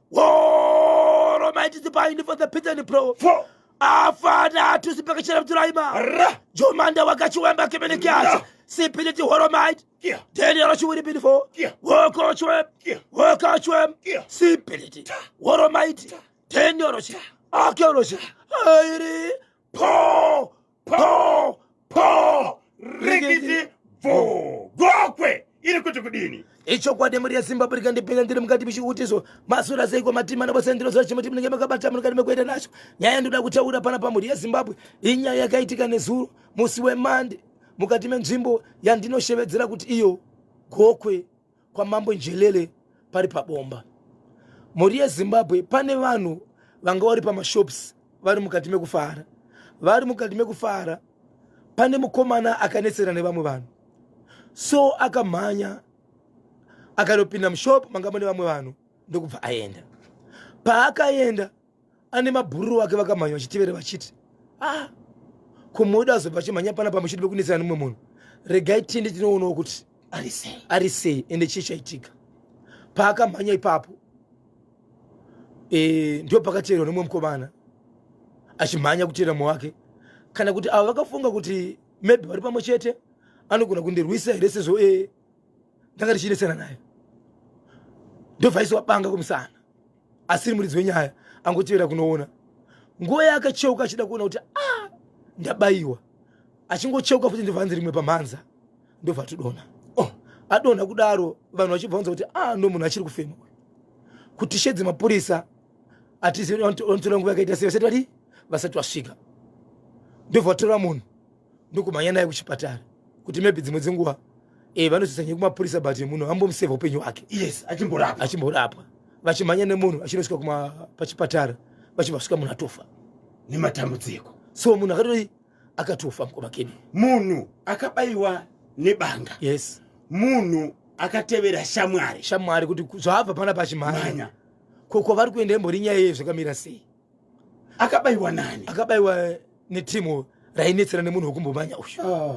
Woro maiti zipaini for the pitani pro. Four. Afana tusi paka chera mturaima. Ra. Jomanda wakachi wemba kemene kiasi. Sipini ti horo maiti. Kia. Deni yaro chiwiri pini fo. Kia. Woko chwem. Kia. Woko chwem. Kia. Sipini ti. Horo maiti. Deni yaro chi. Ake yaro chi. Airi. po po po rikiti bvo gokwe iri kuti kudini ichokwadi mhuri yezimbabwe rikandipinda ndiri mukati michiutiso masura seiko matima navose ndinoziva chimuti munenge makabata munokati mekuenda nacho nyaya ndoda kutaura pana pamhuri yezimbabwe inyaya yakaitika nezuro musi wemande mukati menzvimbo yandinoshevedzera kuti iyo gokwe kwamambo njelele pari pabomba mhuri yezimbabwe pane vanhu vanga vari pamashops vari mukati mekufara vari mukati mekufara pane mukomana akanetsera nevamwe vanhu so akamhanya akanopinda mushop manga mune vamwe vanhu ndokubva aenda paakaenda ane mabhururu wake vakamhanya vachitevere vachiti ah komodo azobva achimhanya pana pamushidi vekunetsana nemumwe munhu regai tiende tinoonawo kuti ari sei ende chii chaitika paakamhanya ipapo e, ndo pakateerwa nemumwe mukomana achimhanya kuteera mumwe wake kana kuti avo vakafunga kuti maybe vari pamwe chete anogona kundirwisa here sezvo e ndanga richinetsana naye ndovhaisi wabanga kumusana asiri muridzi wenyaya angotevera kunoona nguva yaakacheuka achida kuona kuti a ah, ndabayiwa achingocheuka futi ndobva anzi rimwe pamhanza ndobva atodona oh, adonha kudaro vanhu vachibva vanza kuti a ah, ndo munhu achiri kufema kuti shedzi mapurisa atizivi vanotora nguva yakaita sei vasati vadii vasati vasvika ndobva vatora munhu ndokumhanya naye kuchipatara kuti maybe dzimwe dzenguva eh, vanozoisa nyaya kumapurisa but munhu ambomuseva upenyu hwake yes achimborapwa achimborapwa vachimhanya nemunhu achinosvika kuma pachipatara vachibva svika munhu atofa nematambudziko so munhu akatoi akatofa mukoma keni munhu akabayiwa nebanga yes munhu akatevera shamwari shamwari kuti zvaabva pana pachimhanya ko kwavari kuenda imbori nyaya yeye zvakamira sei akabaiwa nani akabaiwa netimu rainetsera nemunhu wekumbomanya uyu ah.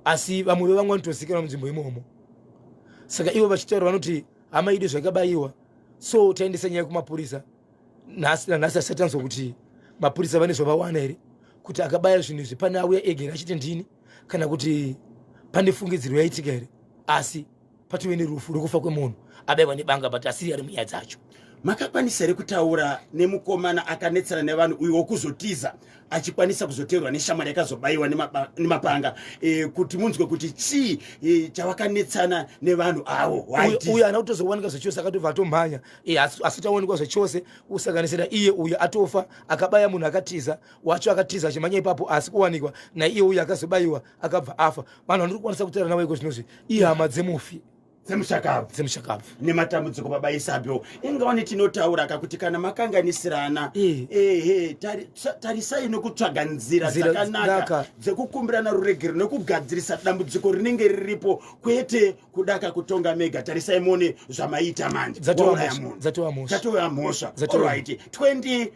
asi vamwe vevamwe vanotozikanwa munzvimbo imomo saka ivo vachitaura vanoti hama idu zvakabaiwa so taendesa nyaya kumapurisa nhasi nanhasi asati tanzwa kuti mapurisa vane zvavawana here kuti akabaya zvinhu izvi pane auya ega here achiti ndini kana kuti pane fungidziro yaitika here asi patove nerufu rwekufa kwemunhu abaiwa nebanga but asiri ari munyaya dzacho makakwanisa here kutaura nemukomana akanetsana nevanhu uyo wokuzotiza achikwanisa kuzoteerwa neshamwari yakazobaiwa nemapanga e, kuti munzwe kuti chii e, chavakanetsana nevanhu avo uyo ana kutozowanika zvachose akatobva atomhanya e, eh, asitawanikwa zvachose kusanganisira iye uyo atofa akabaya munhu akatiza wacho akatiza achimhanya ipapo asi kuwanikwa naiye uyo akazobaiwa akabva afa vanhu vanori kukwanisa kutaura navo iko zvinozvi ihama dzemufi dzemushakabvu dzemushakabvu nematambudziko baba isabyo inga wane tinotaura ka kuti kana makanganisirana eh. ehe tarisai nokutsvaga nzira dzakanaka dzekukumbirana ruregero nekugadzirisa dambudziko rinenge riripo kwete kudaka kutonga mega tarisai mone zvamaita manje dzatova mhosva 20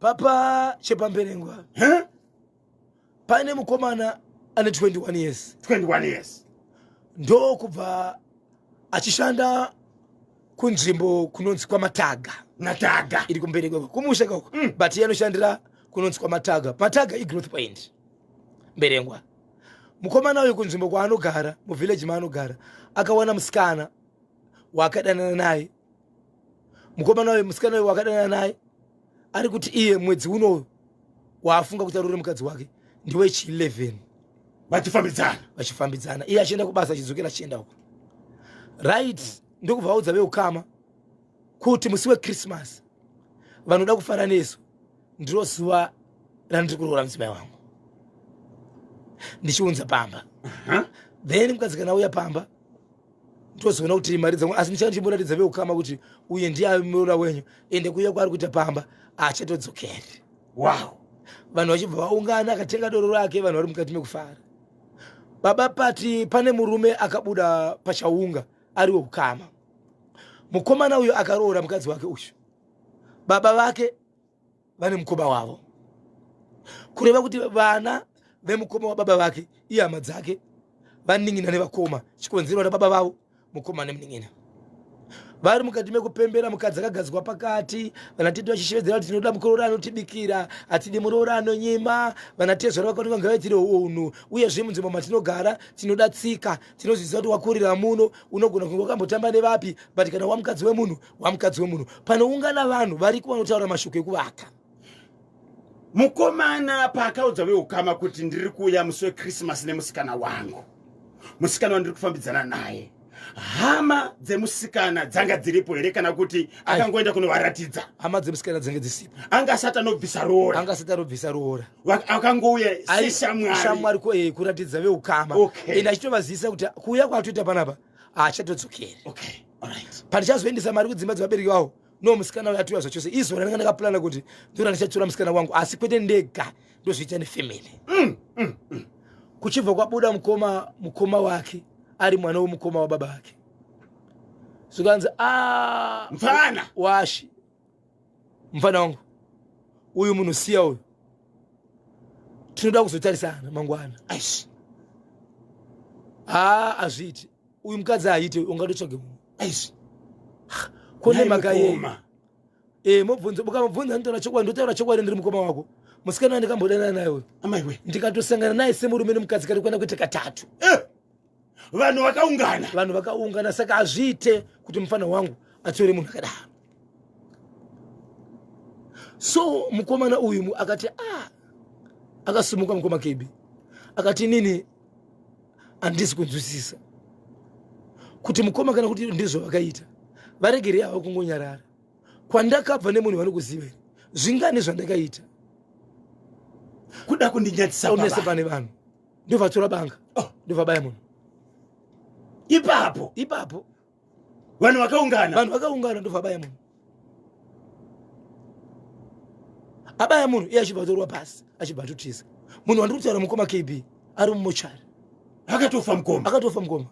papa chepamberengwa huh? pane mukomana ane 21 years 21 years ndokubva achishanda kunzvimbo kunonzi kwamataga nataga iri kumberengwa kumusha kako mm. but iye anoshandira kunonzi kwamataga mataga igrowth point mberengwa mukomana uyu kunzvimbo kwaanogara muvhillaji maanogara akawana musikana waakadanana naye mukomana wayo musikana wayo wakadana naye ari kuti iye mwedzi unoyo waafunga kuti arore mukadzi wake ndiwe chi 11 vachifambidzana vachifambidzana iye achienda kubasa achidzokera achienda uko right ndokubva vaudza veukama kuti musi wechristmas vanoda kufara nesu ndiro zuva randiri kuroora mudzimai wangu ndichiunza pamba then mukadzi kana uya pamba ndozoona kuti mari dzangu asi ndichanga ndichimboratidza veukama kuti uye ndiye ave muroora wenyu ende kuuya kwaari kuita pamba achatodzokeri wow vanhu vachibva vaungana akatenga doro rake vanhu vari mukati mekufara baba pati pane murume akabuda pachaunga ari weukama mukomana uyo akaroora mukadzi wake uyu baba vake vane mukoma wavo kureva kuti vana vemukoma wababa vake iye hama dzake vanin'ina nevakoma chikonzero na baba vavo mukoma nemunin'ina vari mukati mekupembera mukadzi akagadzwa pakati vanatete vachishevedzera kuti tinoda mukororo anotibikira hatidi murooro anonyima vanatezvara vakati vanga vaitire unhu uyezve munzvimbo matinogara tinoda tsika tinozviziva kuti wakurira muno unogona kunge wakambotamba nevapi but kana wamukadzi wemunhu wamukadzi wemunhu panoungana vanhu variko vanotaura mashoko ekuvaka mukomana paakaudza veukama kuti ndiri kuuya musi wekrisimasi nemusikana wangu musikana wandiri kufambidzana naye hama dzemusikana dzanga dziripo here kana kuti akangoenda kunovaratidza hama dzemusikana dzange dzisipo anga asati anobvisa roora anga asati anobvisa roora akangouya seshamwari ko eh, kuratidza veukama okay. ende achitovazivisa kuti kuuya kwaatoita panapa haachatodzokeri okay. pandichazoendesa mari kudzimba dzevabereki vavo no musikana uyo atiuya zvachose izvo randanga ndakapurana kuti ndiro randichatura musikana wangu asi kwete ndega ndozviita nefamily mm, mm, mm. kuchibva kwabuda mukoma mukoma wake ari mwana wemukoma wababa vake zvikanzi ah, mfana washi mfana wangu uyu munhu siya uyu tinoda kuzotarisana mangwana aish haa azviiti uyu mukadzi aite ungatotsvage munhu aish kone makayema e eh, mobvunza ukamubvunza nditaura chokwadi ndotaura chokwadi ndiri mukoma wako musikana wandikambodanana naye uyu amaiwe ndikatosangana naye semurume nemukadzi kari kuenda kuita katatu eh! vanhu vakaungana vanhu vakaungana saka hazviite kuti mufana wangu atore munhu akadaro so mukomana uyu akati a ah, akasumuka mukoma kebi akati inini handisi kunzwisisa kuti mukoma kana kuti ndizvo vakaita varegerei hava kungonyarara kwandakabva nemunhu vanokuzivei zvingani zvandakaita kuda kundinyatsisa pane vanhu ndovatora banga oh. ndovabaya munhu ipapo ipapo vanhu vakaungana vanhu vakaungana ndovabaya munhu abaya munhu iye achibva atorwa pasi achibva atotiza munhu wandiri kutaura mukoma kb ari mumochari akatofa mukoma akatofa mukoma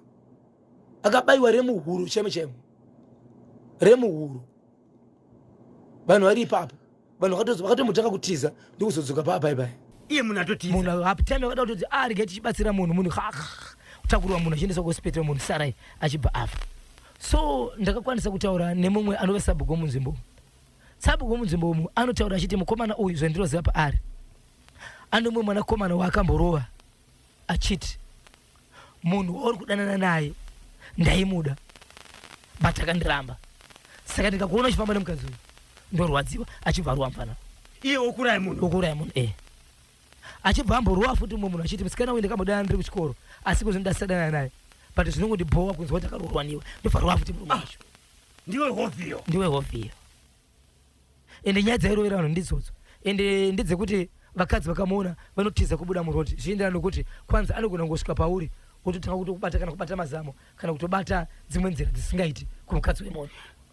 akabayiwa remuhuro chaimo chaimo remuhuro vanhu vari ipapo vanhu vakatombotanga kutiza ndokuzodzoka paa pai pai iye munhu atotiza munhu haptime akada kutoti arege ah, tichibatsira munhu munhu kutakurwa munhu achiendeswa kuhospital munhu sarai achibva afa so ndakakwanisa kutaura nemumwe anove sabhugo munzvimbo sabhugo munzvimbo umu anotaura achiti mukomana uyu zvandiroziva paari anomwe mwanakomana waakamborova achiti Munhu wauri kudanana naye ndaimuda but akandiramba saka ndikakuona uchifamba nemukadzi uyu ndorwadziwa achibva aruwa mfana iye wokuraya munhu wokuraya munhu eh achibva amborowa futi mumwe munhu achiti musikana uyu ndakamudanana ndiri kuchikoro asi kuzvino ndasisadana naye but zvinongondibhowa kunzwa kuti akaroorwa niwe ndobva rowa futi murume wacho ndiwe hovhiyo ndiwe hovhiyo ende nyaya dzairovera vanhu ndidzodzo ende ndedzekuti vakadzi vakamuona vanotiza kubuda murodi zvichienderana nokuti kwanzi anogona kungosvika pauri wototanga kutokubata kana kubata mazamo kana kutobata dzimwe nzira dzisingaiti kumukadzi wemunhu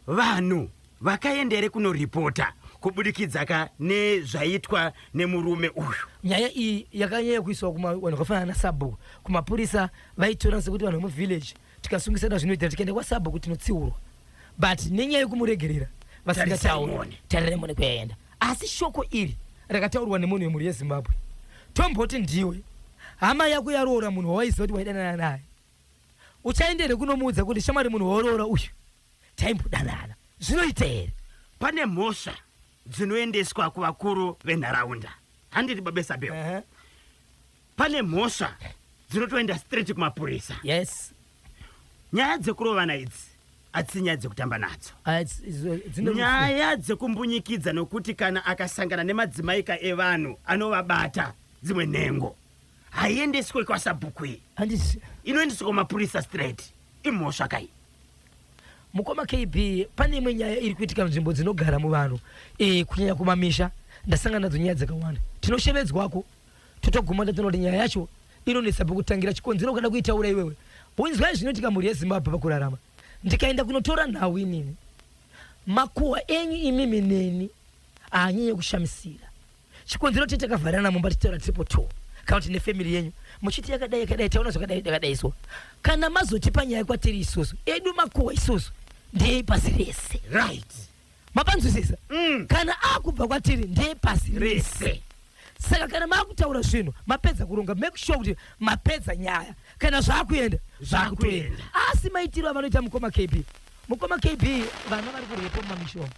vanhu vakaenda here kunoripota kubudikidza ka nezvaitwa nemurume uyu nyaya iyi yakanyanya kuiswa kumavanhu vakafanana nasabhuku kumapurisa vaitora sekuti vanhu vemuvillage tikasungisana zvinoita tikaenda kwasabho kuti tinotsiurwa but nenyaya yekumuregerera vasingatauri tarirai mone kuyaenda asi shoko iri rakataurwa nemunhu wemhuri yezimbabwe tomboti ndiwe hama yako yaroora munhu wawaiziva kuti waidanana naye uchaenda here kunomuudza kuti shamwari munhu waoroora uyu taimbodanana zvinoita here pane mhosva dzinoendeswa kuvakuru venharaunda handiti babesabeo uh -huh. pane mhosva dzinotoenda straight kumapurisa yes nyaya dzekurovana idzi hadzisi nyaya dzekutamba nadzo Ah, it's- it's- dzine rufu. nyaya dzekumbunyikidza nokuti kana akasangana nemadzimaika evanhu anovabata dzimwe nhengo haiendeswe kwasabhuku iyi Handisi- inoendeswa kumapurisa straight imhosva kai mukoma kb pane imwe nyaya iri kuitika nzvimbo dzinogara muvanhu eh, kunyanya kumamisha ndasangana nadzo nyaya dzakawanda tinoshevedzwako totoguma tatoona kuti nyaya yacho inonetsa pekutangira chikonzero ukada kuitaura iwewe unzwai zvinoitika mhuri yezimbabwe pakurarama ndikaenda kunotora nhau inini makuhwa enyu imimi neni haanyanye kushamisira chikonzero tete takavharana mumba tichitaura tiripo two kana kuti nefamily yenyu muchiti yakadai yakadai taona zvakadai takadai so kana mazotipa nyaya kwatiri isusu edu makuhwa isusu ndeyei pasi rese right mapanzwisisa mm. kana akubva kwatiri ndiye pasi rese saka kana makutaura zvinhu mapedza kuronga make sure kuti mapedza nyaya kana zvakuenda zvakutoenda asi maitiro avanoita mukoma kb mukoma kb vana vari kurepo mumamishomo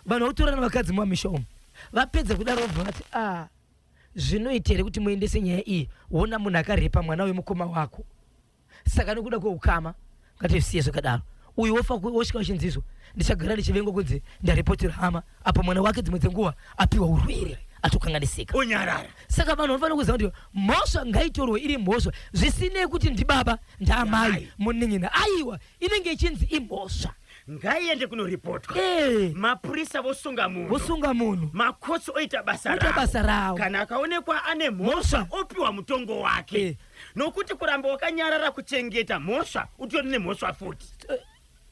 vanhu vautorana vakadzi mumamishomo vapedza kudaro vabva vati a ah, zvinoita here kuti muendese nyaya iyi wona munhu akarepa mwana wemukoma wako saka nokuda kweukama ngatisiye zvakadaro uyu wofa wosvika uchinzizwa ndichagara ndichivengwa kunzi ndaripotera hama apo mwana wake dzimwe dzenguva apiwa urwere atokanganisika onyarara saka vanhu vanofanira kuziva kuti mhosva ngaitorwe iri mhosva zvisinei kuti ndibaba ndaamai munin'ina aiwa inenge ichinzi imhosva ngaiende kunoripotwa hey. Eh. mapurisa vosunga munhu vosunga munhu makotsi oita basa basa rawo kana akaonekwa ane mhosva opiwa mutongo wake hey. Eh. nokuti kuramba wakanyarara kuchengeta mhosva utori nemhosva futi eh,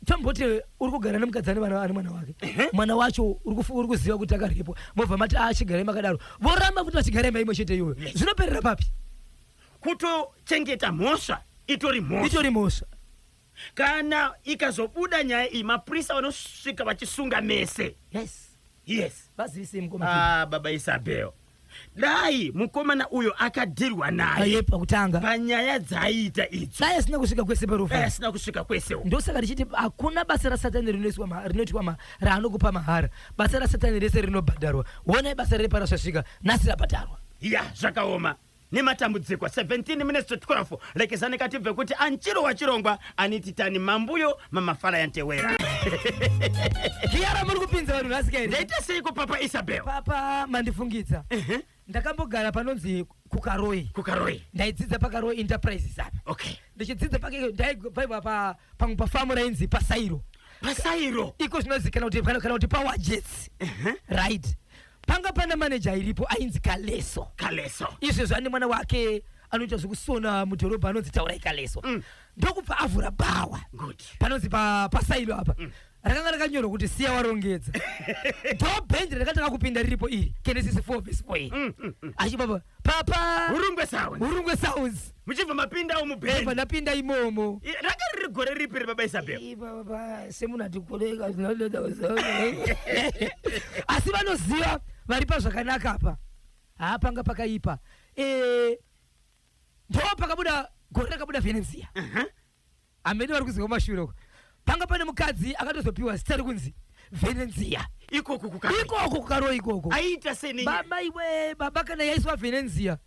tamboti uri kugara nemukadzi ane vana ane mwana wake mwana wacho uri kuziva kuti akaripwa mobva mati achigara ah, imakadaro voramba kuti vachigara imba imwe chete iyoyo zvinoperera papi kutochengeta mhosva itori mhosva itori mhosva kana ikazobuda nyaya iyi mapurisa vanosvika vachisunga mese yes yes vazivisei mukoma ah, baba isabel dai mukomana uyo akadirwa naye pakutanga panyaya dzaiita idzo dai asina kusvika kwese parufu dai asina kusvika kwese ndosaka richiti hakuna basa rasatani rinoitwa raanokupa mahara basa rasatani rese rinobhadharwa wonai basa reparasvasvika nhasi rabhadharwa ya zvakaoma nematambudziko 17 minutes to 12 lekezani katibve kuti anchiro wachirongwa aniti tani mambuyo mamafala yantewera kiyara muri kupinza vanhu nhasi kairi ndaita seiko papa isabel papa mandifungidza uh -huh. ndakambogara panonzi kukaroi kukaroi ndaidzidza pakaroi enterprises apa okay ndichidzidza pake ndaibva pa pamwe pafamu rainzi pasairo pasairo iko zvinozikanwa kuti kana kuti power jets uh -huh. right panga pana maneja airipo ainzi kaleso kaleso izvi zvane mwana wake anoita zvekusona mudhorobha anonzi taurai kaleso mm. ndokubva avhura bhawa panonzi pa, pasailo apa mm rakanga rakanyorwa kuti siya warongedza ndobhenji rakatanga kupinda riripo iri kenesisi 4 vesi 4 iri achibaba papa hurungwe sounds hurungwe sounds muchibva mapindawo mubheni ndapinda imomo ranga riri gore ripi rebaba isabel semunhu atikoreka asi vanoziva vari pazvakanaka apa haa panga pakaipa eh, ndo pakabuda gore rakabuda venesia uh -huh. amene vari kuziva kumashure uko panga pane mukadzi akatozopiwa zita rekunzi venenzia ikoku kukaroi ikoko kukaroi ikoko aiita sei nenye baba iwe baba kana yaiswa venenzia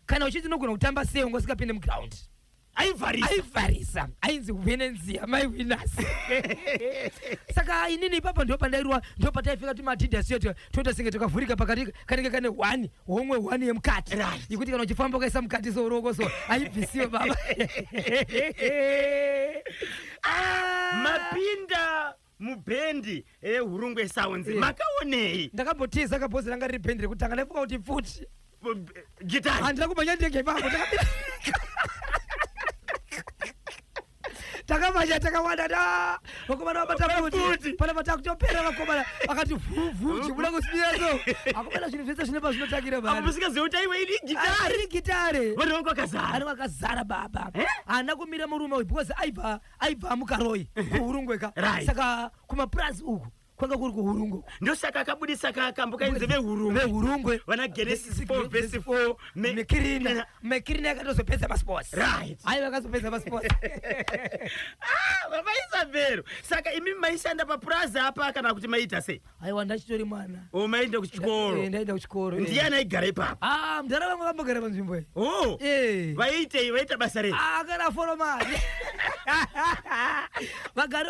kana uchiti unogona kutamba sei wanga usingapinde muground aivharisa aivharisa ainzi venenzia mai winas saka inini ipapa ndo pandairwa ndo pataipfeka tumadidas yetu toita senge takavhurika pakati kanenge kane hwani homwe one yemukati right. yekuti kana uchifamba ukaisa mukati so uroko so haibvisiwe baba ah! mapinda mubhendi ehurungwe eh, sounds yeah. makaonei ndakambotiza kabhozi ranga riri bhendi rekutanga ndaifunga kuti pfuti gitari handina kumhanya ndenge ipapo takamanya takawanda da vakomana vabatafuti pana vatakutopera vakomana vakati vhuvhu chibuda kusiyaso akomana zvinhu zvese zvine pazvinotangira baamusikaziva kuti aiwa ini gitare ah, gitare vanhu vangu vakazara vanhu vakazara baba eh? haana kumira murume uyu because aibva aibva mukaroyi kuhurungweka saka kumapurazi uku kwanga kuri kuhurungwe ndosaka akabudisa kakambo kainzi vehurungwe vehurungwe vana genesis 4 vhesi 4 mekirina mekirina akatozopedza masports right hayi vakazopedza masports ah, baba isabhero saka imi maishanda papurazi apa kana kuti maiita sei aiwa ndachitori mwana o oh, maienda kuchikoro eh, ndaienda kuchikoro eh. ndiyani aigara ipapo ah, mdhara vangu vambogara panzvimbo iyi oh, eh. vaiitei vaiita basa rei ah, akana foromari vagari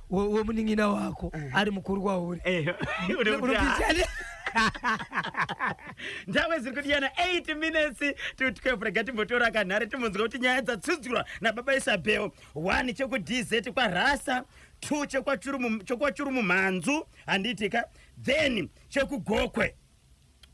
wemunin'ina wako eh. ari mukuru kwauri eh, ndave ziri kudiyana 8 minutes to 12 rega timbotora kanhare timbonzwa kuti nyaya dzatsudzurwa nababa isabel 1 chekudz kwarasa 2 chekwachuru mumhanzu handiitika then chekugokwe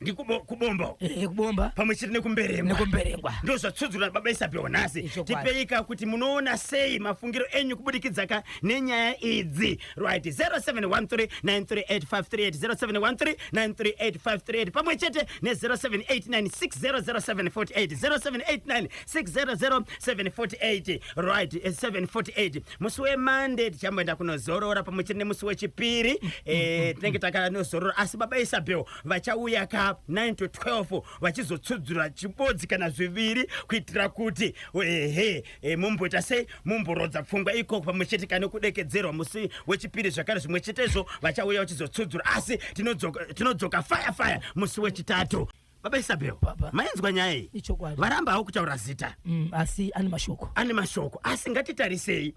ndikubomba eh, kubomba pamwe chete nekumberengwa nekumberengwa ndo zvatsudzura baba isabhiwa nhasi tipeika kuti munoona sei mafungiro enyu kubudikidza ka nenyaya idzi right 0713938538 pamwe chete ne 0789600748 0789600748 right 748 eh, musi wemande tichamboenda kunozorora pamwe chete nemusi wechipiri eh, tinenge takanozorora asi baba isabel vachauya ka 9 to 12 vachizotsudzura chibodzi kana zviviri kuitira kuti ehe eh, mumboita sei mumborodza pfungwa ikoko pamwe chete kana kudekedzerwa musi wechipiri zvakare zvimwe chetezvo vachauya vachizotsudzura asi tinodzoka tinodzoka fire fire musi wechitatu Baba Isabel, Baba. mainzwa nyaya iyi? Ichokwadi. Varamba hawo kutaura zita. Mm, asi ane mashoko. Ane mashoko, asi ngatitarisei.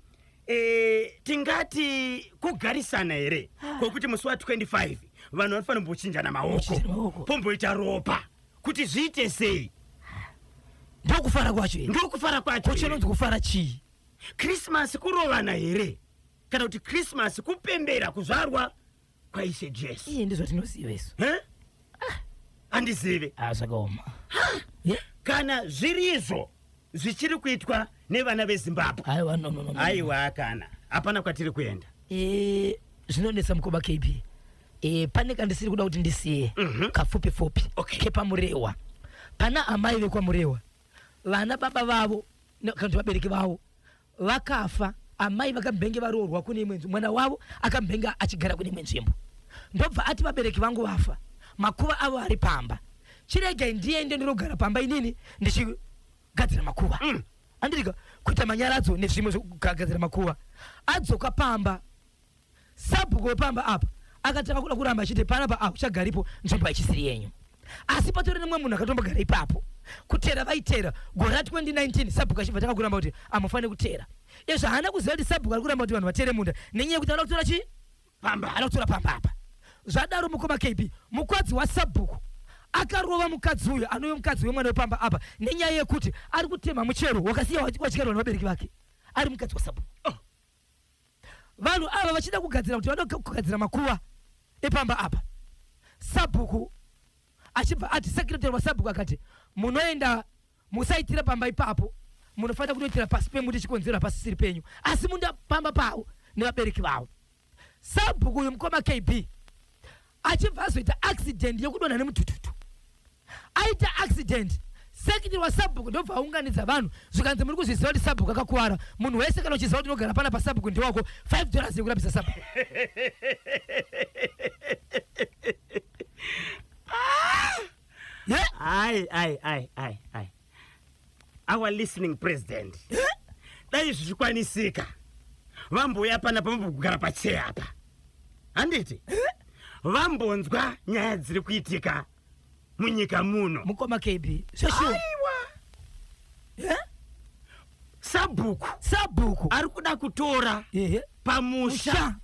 Eh, tingati kugarisana here kwokuti musi wa 25 vanhu vanofanira kumbochinjana maoko Kuchinjana maoko. pomboita ropa kuti zviite sei Ndokufara kwacho here? ndokufara kwacho Ko chinonzi kufara chii? krismasi kurovana here kana kuti krismasi kupembera kuzvarwa kwaishe jesu iye ndizvatinoziva isu ah, handizive ah, zvakaoma kana zviri izvo zvichiri kuitwa nevana vezimbabwe aiwa no, no, no, no. aiwa kana hapana kwatiri kuenda e, zvinonetsa mukoba kb e, pane kandisiri kuda kuti ndisiye mm -hmm. kafupi fupi okay. kepamurewa pana amai vekwamurewa vana baba vavo kana kuti vabereki vavo vakafa amai vakambenge varoorwa kune imwe nzvimbo mwana wavo akambenge achigara kune imwe nzvimbo ndobva ati vabereki vangu vafa makuva avo ari pamba chiregai ndiende ndinogara pamba inini ndichigadzira makuva mm. andirika kuita manyaradzo nezvimwe zvekugadzira makuva adzoka pamba Sabhuku wepamba apa akatanga kuda kuramba achiti panapa akuchagaripo nzvimbo haichisiri yenyu asi patori nemwe munhu akatombogara ipapo kutera vaitera gore ra 2019 sabhuku achibva tanga kuramba kuti amufanire kutera izvo haana kuziva kuti sabhuku ari kuramba kuti vanhu vatere munda nenyaya yekuti anoda kutora chii pamba anoda kutora pamba apa zvadaro mukoma kb mukwadzi wasabhuku akarova mukadzi uyu anove mukadzi wemwana wepamba apa nenyaya yekuti ari kutema muchero wakasiya wadyarwa nevabereki vake ari mukadzi wasabhuku oh. vanhu ava vachida kugadzira kuti vanoda kugadzira makuva epamba apa sabhuku achibva ati sekretary wasabhuku akati munoenda musaitira pamba ipapo munofanira kunoitira pasi pemuti chikonzero hapasisiri penyu asi munda pamba pavo nevabereki vavo sabhuku uyu mukoma kb achibva azoita accident yekudonha nemutututu aita accident sekitiri wasabhuku ndobva aunganidza vanhu zvikanzi muri kuzviziva kuti sabhuku akakuvara munhu wese kana uchiziva kuti unogara pana pasabhuku ndewako 5 dollars yekurapisa sabhuku yeah. ai ai ai ai ai our listening president dai zvichikwanisika vambouya pana pamambokugara pachee apa handiti vambonzwa nyaya dziri kuitika munyika muno mukoma kb zveshuwa sabhuku sabhuku ari kuda kutora pamusha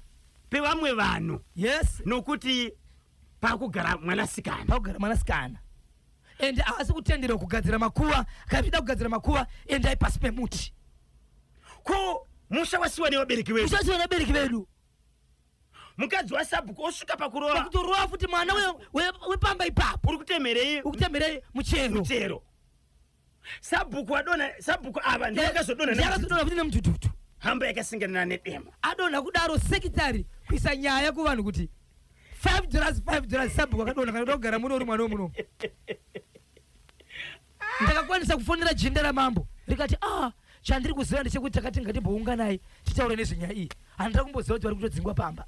pevamwe vanhu yes nokuti pakugara mwanasikana pakugara mwanasikana ende haasi kutenderwa kugadzira makuva kaida kugadzira makuva endai pasi pemuti ko musha wasiwa nevabereki vedu ushasiwa nevabereki vedu mukadzi wasabhuku osvika pakuroa pakutoroa futi mwana we- we- wepamba ipapo uri kutemerei ukutemerei muchero muchero sabhuku wadona sabhuku ava ndiye akazodona Ndiye akazodona futi nemudhudhudhu hamba yakasinganana nedema adonha kudaro sekitari kuisa nyaya kuvanhu kuti 5 dollars 5 dollars sabhuku akadonha kana kuda kugara muno uri mwana wemuno ndakakwanisa kufonera jinda ramambo rikati ah chandiri kuziva ndechekuti takati ngatimbounganai titaure nezvenyaya iyi handina kumboziva kuti vari kutodzingwa pamba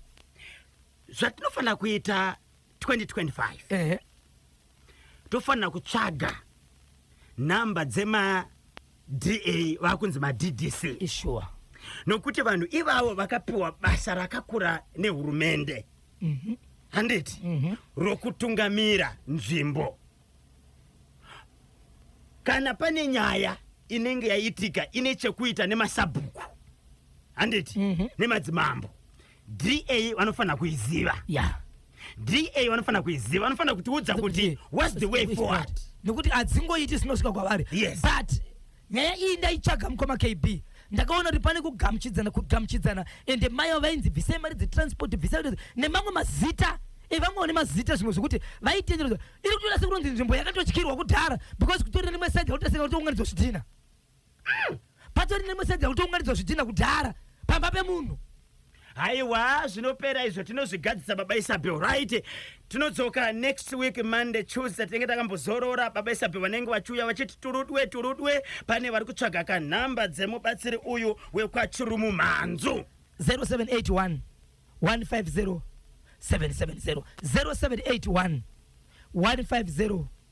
zvatinofanira kuita 2025 ehe tofanira kutsvaga nhamba dzema da vakunzi maddc sure nokuti vanhu ivavo vakapiwa basa rakakura nehurumende mm -hmm. handiti mm -hmm. rokutungamira nzvimbo kana pane nyaya inenge yaitika ine chekuita nemasabhuku handiti mm -hmm. nemadzimambo DA vanofanira kuiziva. Yeah. DA vanofanira kuiziva, vanofanira kutiudza kuti what's the way forward. Nokuti adzingoiti sinosvika kwavari. Yes. But nyaya iyi ndaichaga mukoma KB ndakaona kuti pane kugamuchidzana kugamuchidzana ende mai avo vainzi bvisai mari dzetransport bvisai nemamwe mazita evamwe vane mazita zvimwe zvekuti vaitenderedzwa iri kutoita sekunonzi nzvimbo yakatotyirwa kudhara because kutori nerimwe saidi rakutaseka kuti unganidzwa zvidhina Mm, patori nemeseji yakutounganidzwa zvidhina kudhara pamba pemunhu. Haiwa zvinopera izvo tinozvigadzisa baba Isabel right. Tinodzoka next week Monday Tuesday tinenge takambozorora baba Isabel vanenge vachiuya vachiti turudwe turudwe pane vari kutsvaga kanhamba dzemubatsiri uyu wekwachirumu mhanzu. 0781 150 770 0781 150